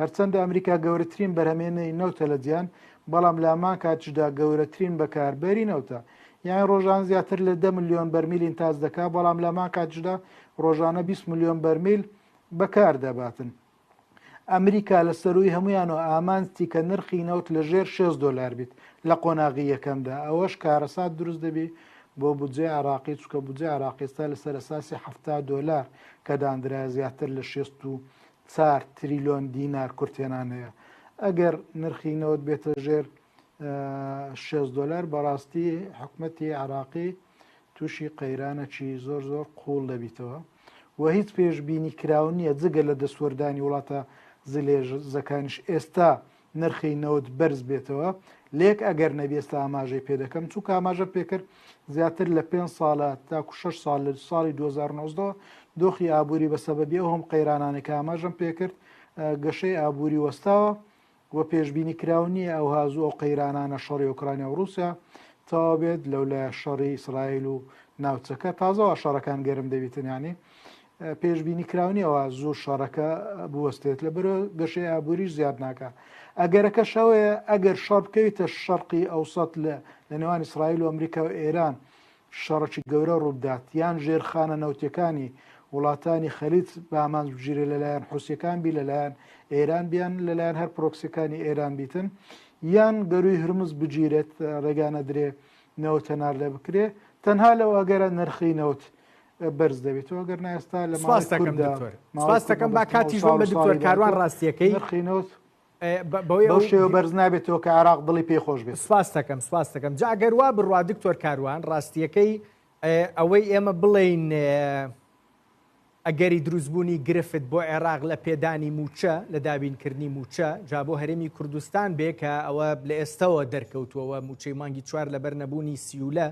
هەرچەندە ئەمریکا گەورەترین بەرهەمێنەری نەوتە لە جیان بەڵام لامان کاتیشدا گەورەترین بەکاربەری نەوتە یان ڕۆژان زیاتر لە دە میلیۆن بەرمیل ئینتاج دەکا بەڵام لامان کاتیشدا ڕۆژانە 20 میلیۆن بەرمیل بەکار دەباتن. ئەمریکا لە سەروی هەمویان و ئامانجتی کە نرخی نەوت لە ژێر 6 دلار بیت لە قۆناغی یەکەمدا ئەوەش کارەسات دروست دەبی بۆ بودجێ عراقی چکە بودجێ عراقیستا لەسەر ئەساسی ه دلار کە داندرا زیاتر لە 6 چار تریلۆن دینار کورتێنان هەیە ئەگەر نرخی نەوت بێتە ژێر شێز دلار بەڕاستی حکومەتی عراقی تووشی قەیرانەکی زۆر زۆر قوڵ دەبیتەوە و هیچ پێشببینی کراون نیە جگە لە دەسوەردانی وڵاتە زلێژ زەکانش ئێستا نرخی نەوت بەرز بێتەوە لەیەک ئەگەر نەبی ئێستا ئاماژەی پێ دەکەم چوو کاماژە پێکرد زیاتر لە پێ ساڵە تاکو 6 سال لە ساڵی 2009 دۆخی ئابووری بە سەبەبی ئەو هەم قەیرانانێک ئاماژەم پێکرد گەشەی ئابووری وەستاوە و پێشببینی کراو نییە ئەو هازوو ئەو قەیرانانە شەڕی ئۆکرانیا و رووسیا تەوا بێت لەولای شەڕی ئیسرائیل و ناوچەکە تازەوە شەڕەکان گەرم دەبیتن ینی پێشببینی کراونیەوە زۆر شەڕەکە بوەستێت لە بەرە گەشەی ئابووریش زیاد ناکە ئەگەرەکە شەوەیە ئەگەر شەڕ بکەویتە شەرقی ئەوسەت لە لە نێوان ئیسرائیل و ئەمریکا و ئێران شەڕکی گەورە ڕووبدات یان ژێرخانە نەوتەکانی وڵاتانی خەلیت بامان بگیرێ لەلایەن حوسەکان بی لەلایەن ئێران بیان لەلایەن هەر پرۆکسەکانی ئێران بیتن یان گەروی هرمز بگیرێت ڕێگانە درێ نەوتەنار لە بکرێ تەنها لەو ئەگەرە نرخی نەوت بەرز دەبێتەوە گەر ناستا لە ماستەکەم با کاتی ژۆن بە دکتۆر کاروان ڕاستیەکەی نرخینەوت بەو شێوە بەرز نابێتەوە کە عراق دڵی پێ خۆش بێت سپاستەکەم سپاستەکەم جاگەر وا بڕوا دکتۆر کاروان ڕاستیەکەی ئەوەی ئێمە بڵین ئەگەری دروستبوونی گرفت بۆ عێراق لە پێدانی موچە لە دابینکردنی موچە جا بۆ هەرێمی کوردستان بێ کە ئەوە لە ئێستەوە دەرکەوتووەوە موچەی مانگی چوار لەبەر نەبوونی سیولە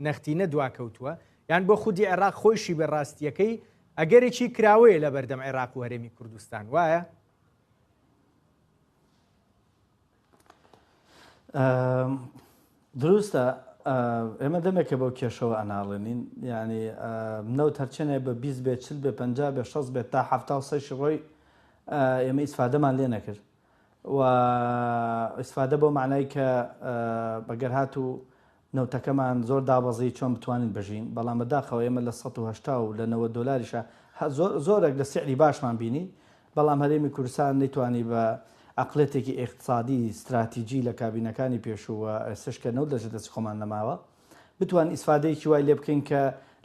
نەختینە دواکەوتووە، یان بۆ خودی عێراق خۆیشی بێ ڕاستییەکەی ئەگەرێکی کراوەیە لەبەردەم عێراق و هەرێمی کوردستان، وایە؟ دروستە ئێمە دەمێکە بەو کێشەوە ئەناڵێنین ینی نەوت هەرچێنێ بە 20 بێ چل بێ پ بێ 6 بێت تا هەفتا و سەشی ڕۆی ئێمە ئیسفادەمان لێ نەکرد و ئیسفادە بۆ معنای کە بەگەر هات و نەوتەکەمان زۆر دابەزی چۆن بتوانین بژین بەڵام بەداخەوە ئێمە لە سەد و هەشتا و لە نەوەد دۆلاریشا هە زۆر زۆرەک لە سعری باشمان بینی بەڵام هەرێمی کوردستان نەیتوانی بە عەقڵێتێکی ئێقتسادی ستراتیجی لە کابینەکانی پێشوو و ئێستش کە نەوت لەژێر دەستی خۆمان نەماوە بتوانین ئیسفادەیەکی وای لێ بکەین کە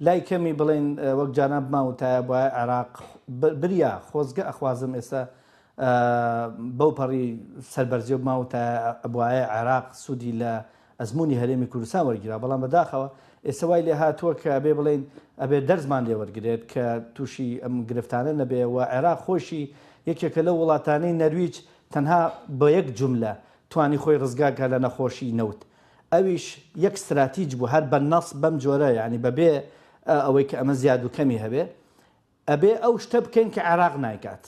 لای کەمی بڵێین وەک جاران بمان وتایە بوایە عێراق بریا خۆزگە ئەخوازم ئێستا بەو پەڕی سەربەرزیەوە بمان وتایە بوایە عێراق سوودی لە ئەزموونی هەرێمی کوردستان وەرگیراوە، بەڵام بەداخەوە ئێستا وای لێ هاتووە کە ئەبێ بڵێین ئەبێ دەرسمان لێ وەرگرێت کە تووشی ئەم گرفتانە نەبێ و عێراق خۆیشی یەکێکە لەو وڵاتانەی نەرویج تەنها بە یەک جوملە توانی خۆی ڕزگار کا لە نەخۆشی نەوت ئەویش یەک ستراتیج بوو هەر بە نەص بەم جۆرە یانی بە بێ ئەوەی کە ئەمە زیاد و کەمی هەبێ ئەبێ ئەو شتە بکەین کە عێراق نایکات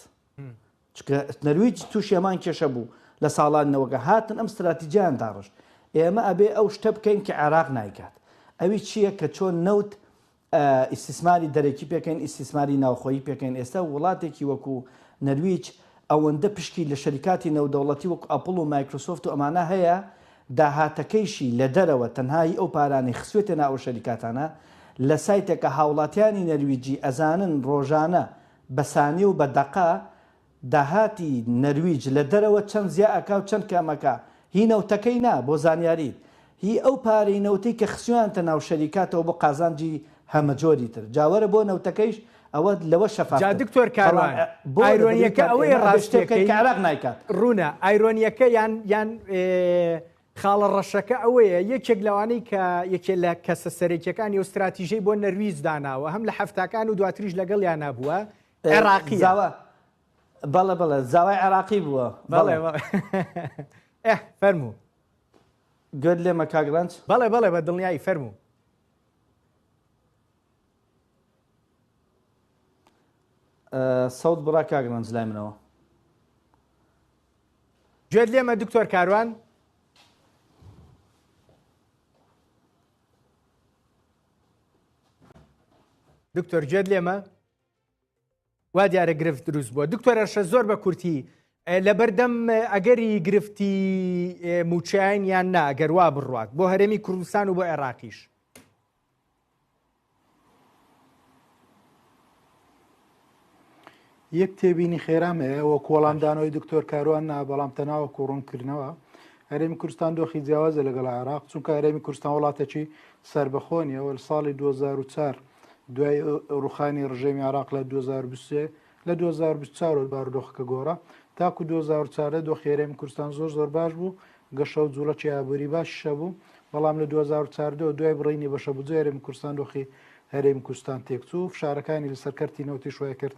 چونکە نەرویج توشی هەمان کێشە بوو لە ساڵانی نەوەکان هاتن ئەم ستراتیجیان داڕشت ئێمە ئەبێ ئەو شتە بکەین کە عێراق نایکات ئەوی چیە کە چۆن نەوت ئیستیسماری دەرەکی پێکەین ئیستیسماری ناوخۆیی پێکەین ئێستا وڵاتێکی وەکو نەرویج ئەوەندە پشکی لە شەریکاتی نەودەوڵەتی وەکو ئەپڵ و مایکرۆسۆفت و ئەمانە هەیە داهاتەکەیشی لە دەرەوە تەنها هی ئەو پارانەی خسوێتە نا ئەو شەریکاتانە لە سایتێکە هاوڵاتیانی نەرویجی ئەزانن ڕۆژانە بە سانی و بە دەقە داهاتی نەرویج لە دەرەوە چەند زیا ئەکا و چەند کەم ئەکا هی نەوتەکەی نا بۆ زانیاریت هی ئەو پارەی نەوتەی کە خسیۆیانتە ناو شەریکاتەوە بۆ قازانجی هەمەجۆری تر جا وەرە بۆ نەوتەکەیش ئەوە لەوە شەفاف جا تر دکتۆر بەڵام کاروان بۆ دەبریت ئایرۆنیەکە ئەوەیە ئێمە ئەبێ شتێ بکەین کە راستیەکەی عێراق نایکات. ڕوونە ئایرۆنیەکە یان یان ئێ. خاڵە ڕەشەکە ئەوەیە یەکێک لەوانەی کە یەکێ لە کەسە سەرەکیەکانی و ستراتیژەی بۆ نەرویج داناوە هەم لە هەفتاکان و دواتریش لەگەڵ یانا بووە عێراقی زاوە بەڵێ بەڵێ زاوای عێراقی بووە بەڵێ ئە فەرموو گوێت لێ مەکگرنج بەڵێ بەڵێ بە دڵنیایی فەرموو سەوت بڕا کاگرنج لای منەوە گوێت لێمە دکتۆر کاروان؟ دکتۆر گوێت لێمە؟ وا دیارە گرفت دروست بووە دکتۆرەشە زۆر بە کورتی لە بەردەم ئەگەری گرفتی موچیان یان ناگەروا بڕات بۆ هەرێمی کوردستان و بۆ عێراقیش یەک تێبینی خێرام هەیە وە کۆڵان دانەوەی دکتۆر کاروان نا بەڵام تەناوە کۆڕونکردنەوە هەرێمی کوردستان دۆخی جیاوازە لەگەڵ عراق چونکە هەرێمی کوردستان وڵاتێکی سربەخۆنیەوە ساڵی 2004 دوای ڕوخانی ڕژێمی عراق لە 2023 لە دوو هەزار و بیست و چوار وە بارودۆخەکە گۆڕا تاکو دوو هەزار و چواردە دۆخی هەرێمی کوردستان زۆر زۆر باش بوو گەشە و جووڵەکی ئابووری باشیش هەبوو بەڵام لە دوو هەزار و چواردە وە دوای بڕینی بەشە بودجەی هەرێمی کوردستان دۆخی هەرێمی کوردستان تێکچوو فشارەکانی لەسەر کەرتی نەوتیش وایکرد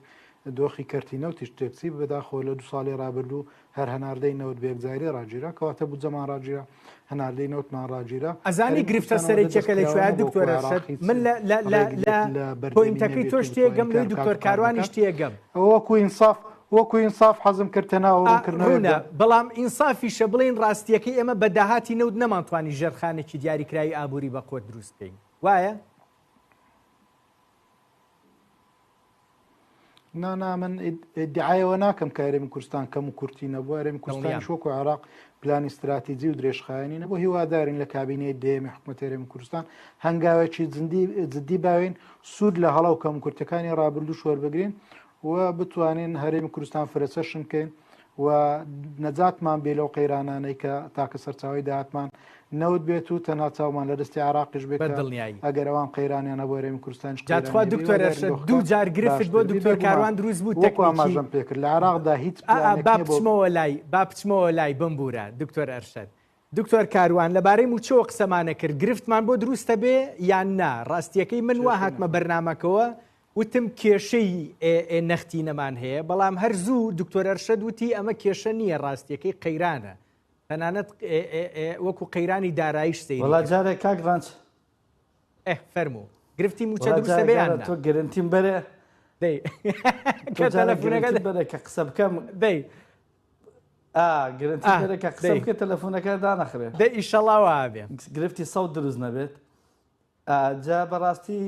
دۆخی کەرتی نەوتیش تێکچی بەداخەوە لە دوو ساڵی ڕابردوو هەر هەناردەی نەوت بە یەکجاری ڕاگیرا کەواتە بودجەمان ڕاگیرا، هەناردەی نەوتمان ڕاگیرا. ئەزانی گرفتە سەرەکیەکە لە کوێیە دکتۆر ئەرشەد؟ من لە پۆینتەکەی تۆش تێگەم لۆی دکتۆر کاروانیش تێگەم. ئەوە وەکو ئینساف وەکو ئینساف حەزم کرد تەنها ئەوە ڕوونکردنەوەک بێت. ڕوونە، بەڵام ئینسافیشە بڵێین ڕاستییەکەی ئێمە بە داهاتی نەوت نەمانتوانی ژێرخانێکی دیاریکراوی ئابووری بەقوەت دروست بکەین. وایە؟ نا نا من دیعاەوە ناکەم کە هەرێمی کوردستان کەم و کورتی نەبوو هەرێمی کوردستان شۆک و عراق پلانی استراتیجی و درێژخایانی نەبوو هیوادارین لە کابینەی دێمی حکوومەت هەرێمی کوردستان هەنگاوێکی جددی باوین سوود لە هەڵا و کەم کورتەکانی ڕابردوو شوەربگرین و بتوانین هەرێمی کوردستان فرەچەشن بکەین و نەجاتمان بێ لەو قەیرانانەی کە تاکە سەرچاوی داهاتمان نەوت بێت و تەنها چاومان لە دەستی عراقیش بێت دڵنیایی ئەگەر ئەوان قەیرانیان هەبوو هەرێمی کوردستان جاتخوا دکتۆر دوو جار گرفت بۆ دکتۆر کاروان دروست بوو تەکماژم پێکرد لە عراقدا هیچ بچمەوە لای با بچمەوە لای بمبورە دکتۆر ئەرشەد دکتۆر کاروان لەبارەی موچەوە قسەمانە کرد گرفتمان بۆ دروستە بێ یان نا ڕاستیەکەی من وە هاتمە بەرنمەکەوە وتم کێشەی ئێ نەختینەمان هەیە، بەڵام هەر زوو دکتۆر ئەرشەد وتی ئەمە کێشە نییە ڕاستییەکەی قەیرانە. تەنانەت وەکو قەیرانی دارایش سەیری کرد. وەڵا جارێ کاک ڕەنج. ئێ فەرموو. گرفتی مووچە دروستە بێ یان نا؟ وەڵا جارێ تۆ گرنتیم بەرێ. دەی کە تەلەفونەکە. تۆ جارێ گرنتیم بەرێ کە قسە بکەم. دەی. ئا گرنتیم بەرێ کە قسە بکەی تەلەفونەکە دانەخرێ. دەی ئیشەڵا وا بێ. گرفتی سەوت دروست نەبێت. جا بەڕاستی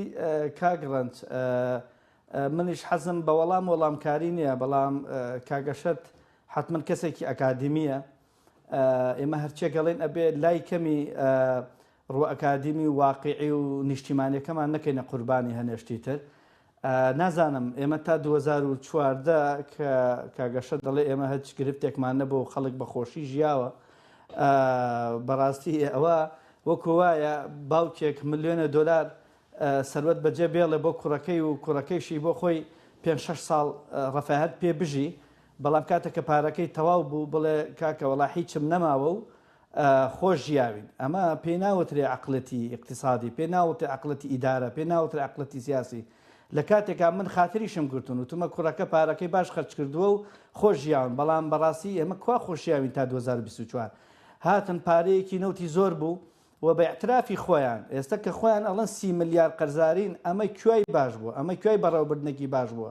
کاک ڕەنج منیش حەزم بە وەڵام وەڵامکاری نییە بەڵام کاک ئەشەت حەتمەن کەسێکی ئەکادیمییە ئێمە هەرچێک ئەڵێن ئەبێ لای کەمی ڕوە ئەکادیمی و واقعی و نیشتیمانەکەمان نەکەینە قوربانی هەنێشتی تر نازانم ئێمە تا دوو هەزار و چواردە کە کاک ئەشەد دەڵێ ئێمە هەچ گرفتێکمان نەبوو و خەڵک بە خۆشی ژیاوە ئا بەڕاستی ئەوە وەکو وایە باوکێک ملیۆنە دۆلار ئا سەروەت بەجێ بێڵێ بۆ کوڕەکەی و کوڕەکەیشی بۆ خۆی پێنج شەش ساڵ ئا ڕەفاهەت پێ بژی بەڵام کاتێ کە پارەکەی تەواو بوو بڵێ کاکە وەڵا هیچم نەماوە و خۆش ژیاوین ئەمە پێی ناوترێ عەقڵێتی ئیقتیسادی پێ ناوتێ عەقڵێتی ئیدارە پێ ناوترێ عەقڵێتی سیاسی لە کاتێکا من خاتریشم گرتون وتومە کوڕەکە پارەکەی باش خەرج کردووە و خۆش ژیاون بەڵام بەڕاستی ئێمە کوا خۆشیاوین تا دوو هەزار و بیست و چوار هاتن پارەیەکی نەوتی زۆر بوو و بە ئیعترافی خۆیان ئێستا کە خۆیان ئەڵێن سی ملیار قەرزارین ئەمە کوای باش بووە ئەمە کوای بەڕێوەبردنێکی باش بووە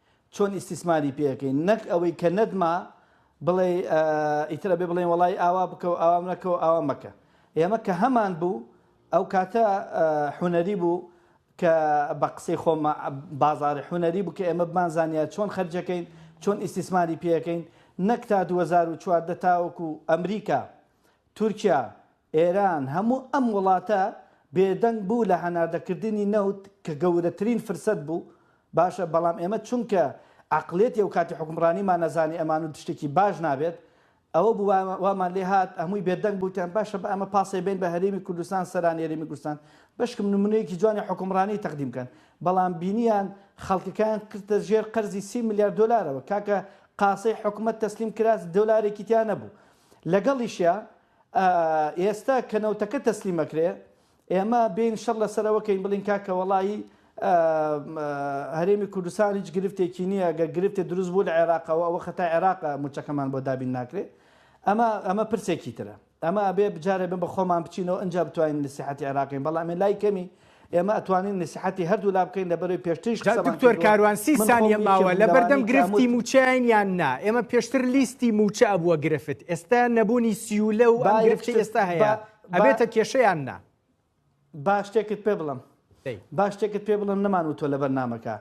چۆن ئیستیسماری پێ ئەکەین نەک ئەوەی کە نەتما بڵێ ئیتر ئەبێ بڵێن وەڵای ئاوا بکە و ئاوا مەکە و ئاوا مەکە ئێمە کە هەمان بوو ئەو کاتە حونەری بوو کە بە قسەی خۆم بازاری حونەری بوو کە ئێمە بمانزانیا چۆن خەرجەکەین چۆن ئیسیسماری پێەکەین نەک تا 2014 تاوەکو ئەمریکا تورکیا ئێران، هەموو ئەم وڵاتە بێدەنگ بوو لە هەناردەکردنی نەوت کە گەورەترین فرسەت بوو، باشە بەڵام ئێمە چونکە عەقڵیەتی ئەوکاتی حوکمڕانیمان ئەزانی ئەمان و شتێکی باش نابێت ئەوە بوو وامان لێ هات هەمووی بێدەنگ بووتان باشە با ئەمە پاسێ بەین بە هەرێمی کوردستان سەرانی هەرێمی کوردستان بەشکم نمونەیەکی جوانی حوکمڕانی تەقدیم کەن بەڵام بینیان خەڵکەکەیان کردە ژێر قەرزی سی ملیار دۆلارەوە کاکە قاسەی حکومەت تەسلیم کرا دۆلارێکی تیا نەبوو لەگەڵیشیا ئێستا کە نەوتەکە تەسلیم ئەکرێ ئێمە بێین شەڕ لەسەرەوە کەین بڵین کاکە وەڵایی هەرێمی کوردستان هیچ گرفتێکی نییە گە گرفتێ دروست بوو لە عێراقەوە ئەوە خەتا عێراقە موچەکەمان بۆ دابین ناکرێ ئەمە ئەمە پرسێکی ترە ئەمە ئەبێ بجارێ بە خۆمان بچینەوە ئەجا بتوانین نسیحەتی عێراقین بەڵام لای کەمی ئێمە ئەتوانین نسیحەتی هەردوو لا بکەین لەبەرەی پێشتریش جا دکتۆر کاروان سی سانیە ماوە لەبەردەم گرفتی موچەین یان نا ئێمە پێشتر لیستی موچە ئەبووە گرفت ئێستا نەبوونی سیولە و ئەم گرفتی ئێستا هەیە ئەبێتە کێشەیان نا باشتێکت پێ بڵم باشتێکت پێ بڵم نەمان و تۆ لە بەرنمەکە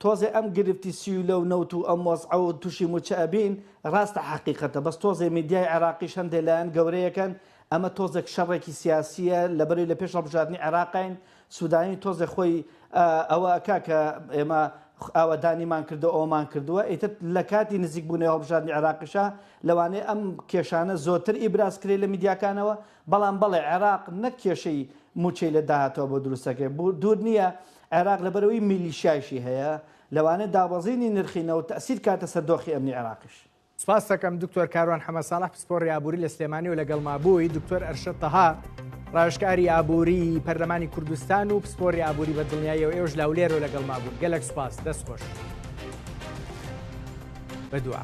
تۆزێ ئەم گرفتی سیولە و نەوت و ئەم وەزعە و توشی موچە ئەبین راستە حەقیقەتە بەس تۆزێ میدیای عێراقیش هەندێ لایەن گەورەیەکەن ئەمە تۆزێک شەڕێکی سیاسیە لەبەری لە پێش هەڵبژاردنی عێراقین سودانی تۆزێ خۆی ئەوە ئەکا کە ئێمە ئاوەدانیمان کردو ئەومان کردووە ئیتر لە کاتی نزیک بوونەوە هەڵبژاردنی عێراقیشە لەوانەیە ئەم کێشانە زۆرتر ئیبراز کرێ لە میدیاکانەوە بەڵام بەڵێ عێراق نەک کێشەی موچەی لە داهاتوە بۆ دروستەکەی بۆ دوور نییە عێراق لەبەرئەوەی میلیشیایشی هەیە لەوانەیە دابەزینی نرخی نەوت تەئسیر کاتە سەر دۆخی ئەمنی عێراقیش. سپاستەکەم دکتۆر کاروان حەمە ساڵح پسپۆڕی ئابووری لە سلێمانی و لەگەڵما بووی دکتۆر ئەرشەد تەها ڕاوێژکاری ئابووری پەرلەمانی کوردستان و پسپۆری ئابووری بە دڵنیاییەوە ئێوەش لاولێر و لەگەڵما بوون گەلەک سپاس دەست خۆش بەدوعا.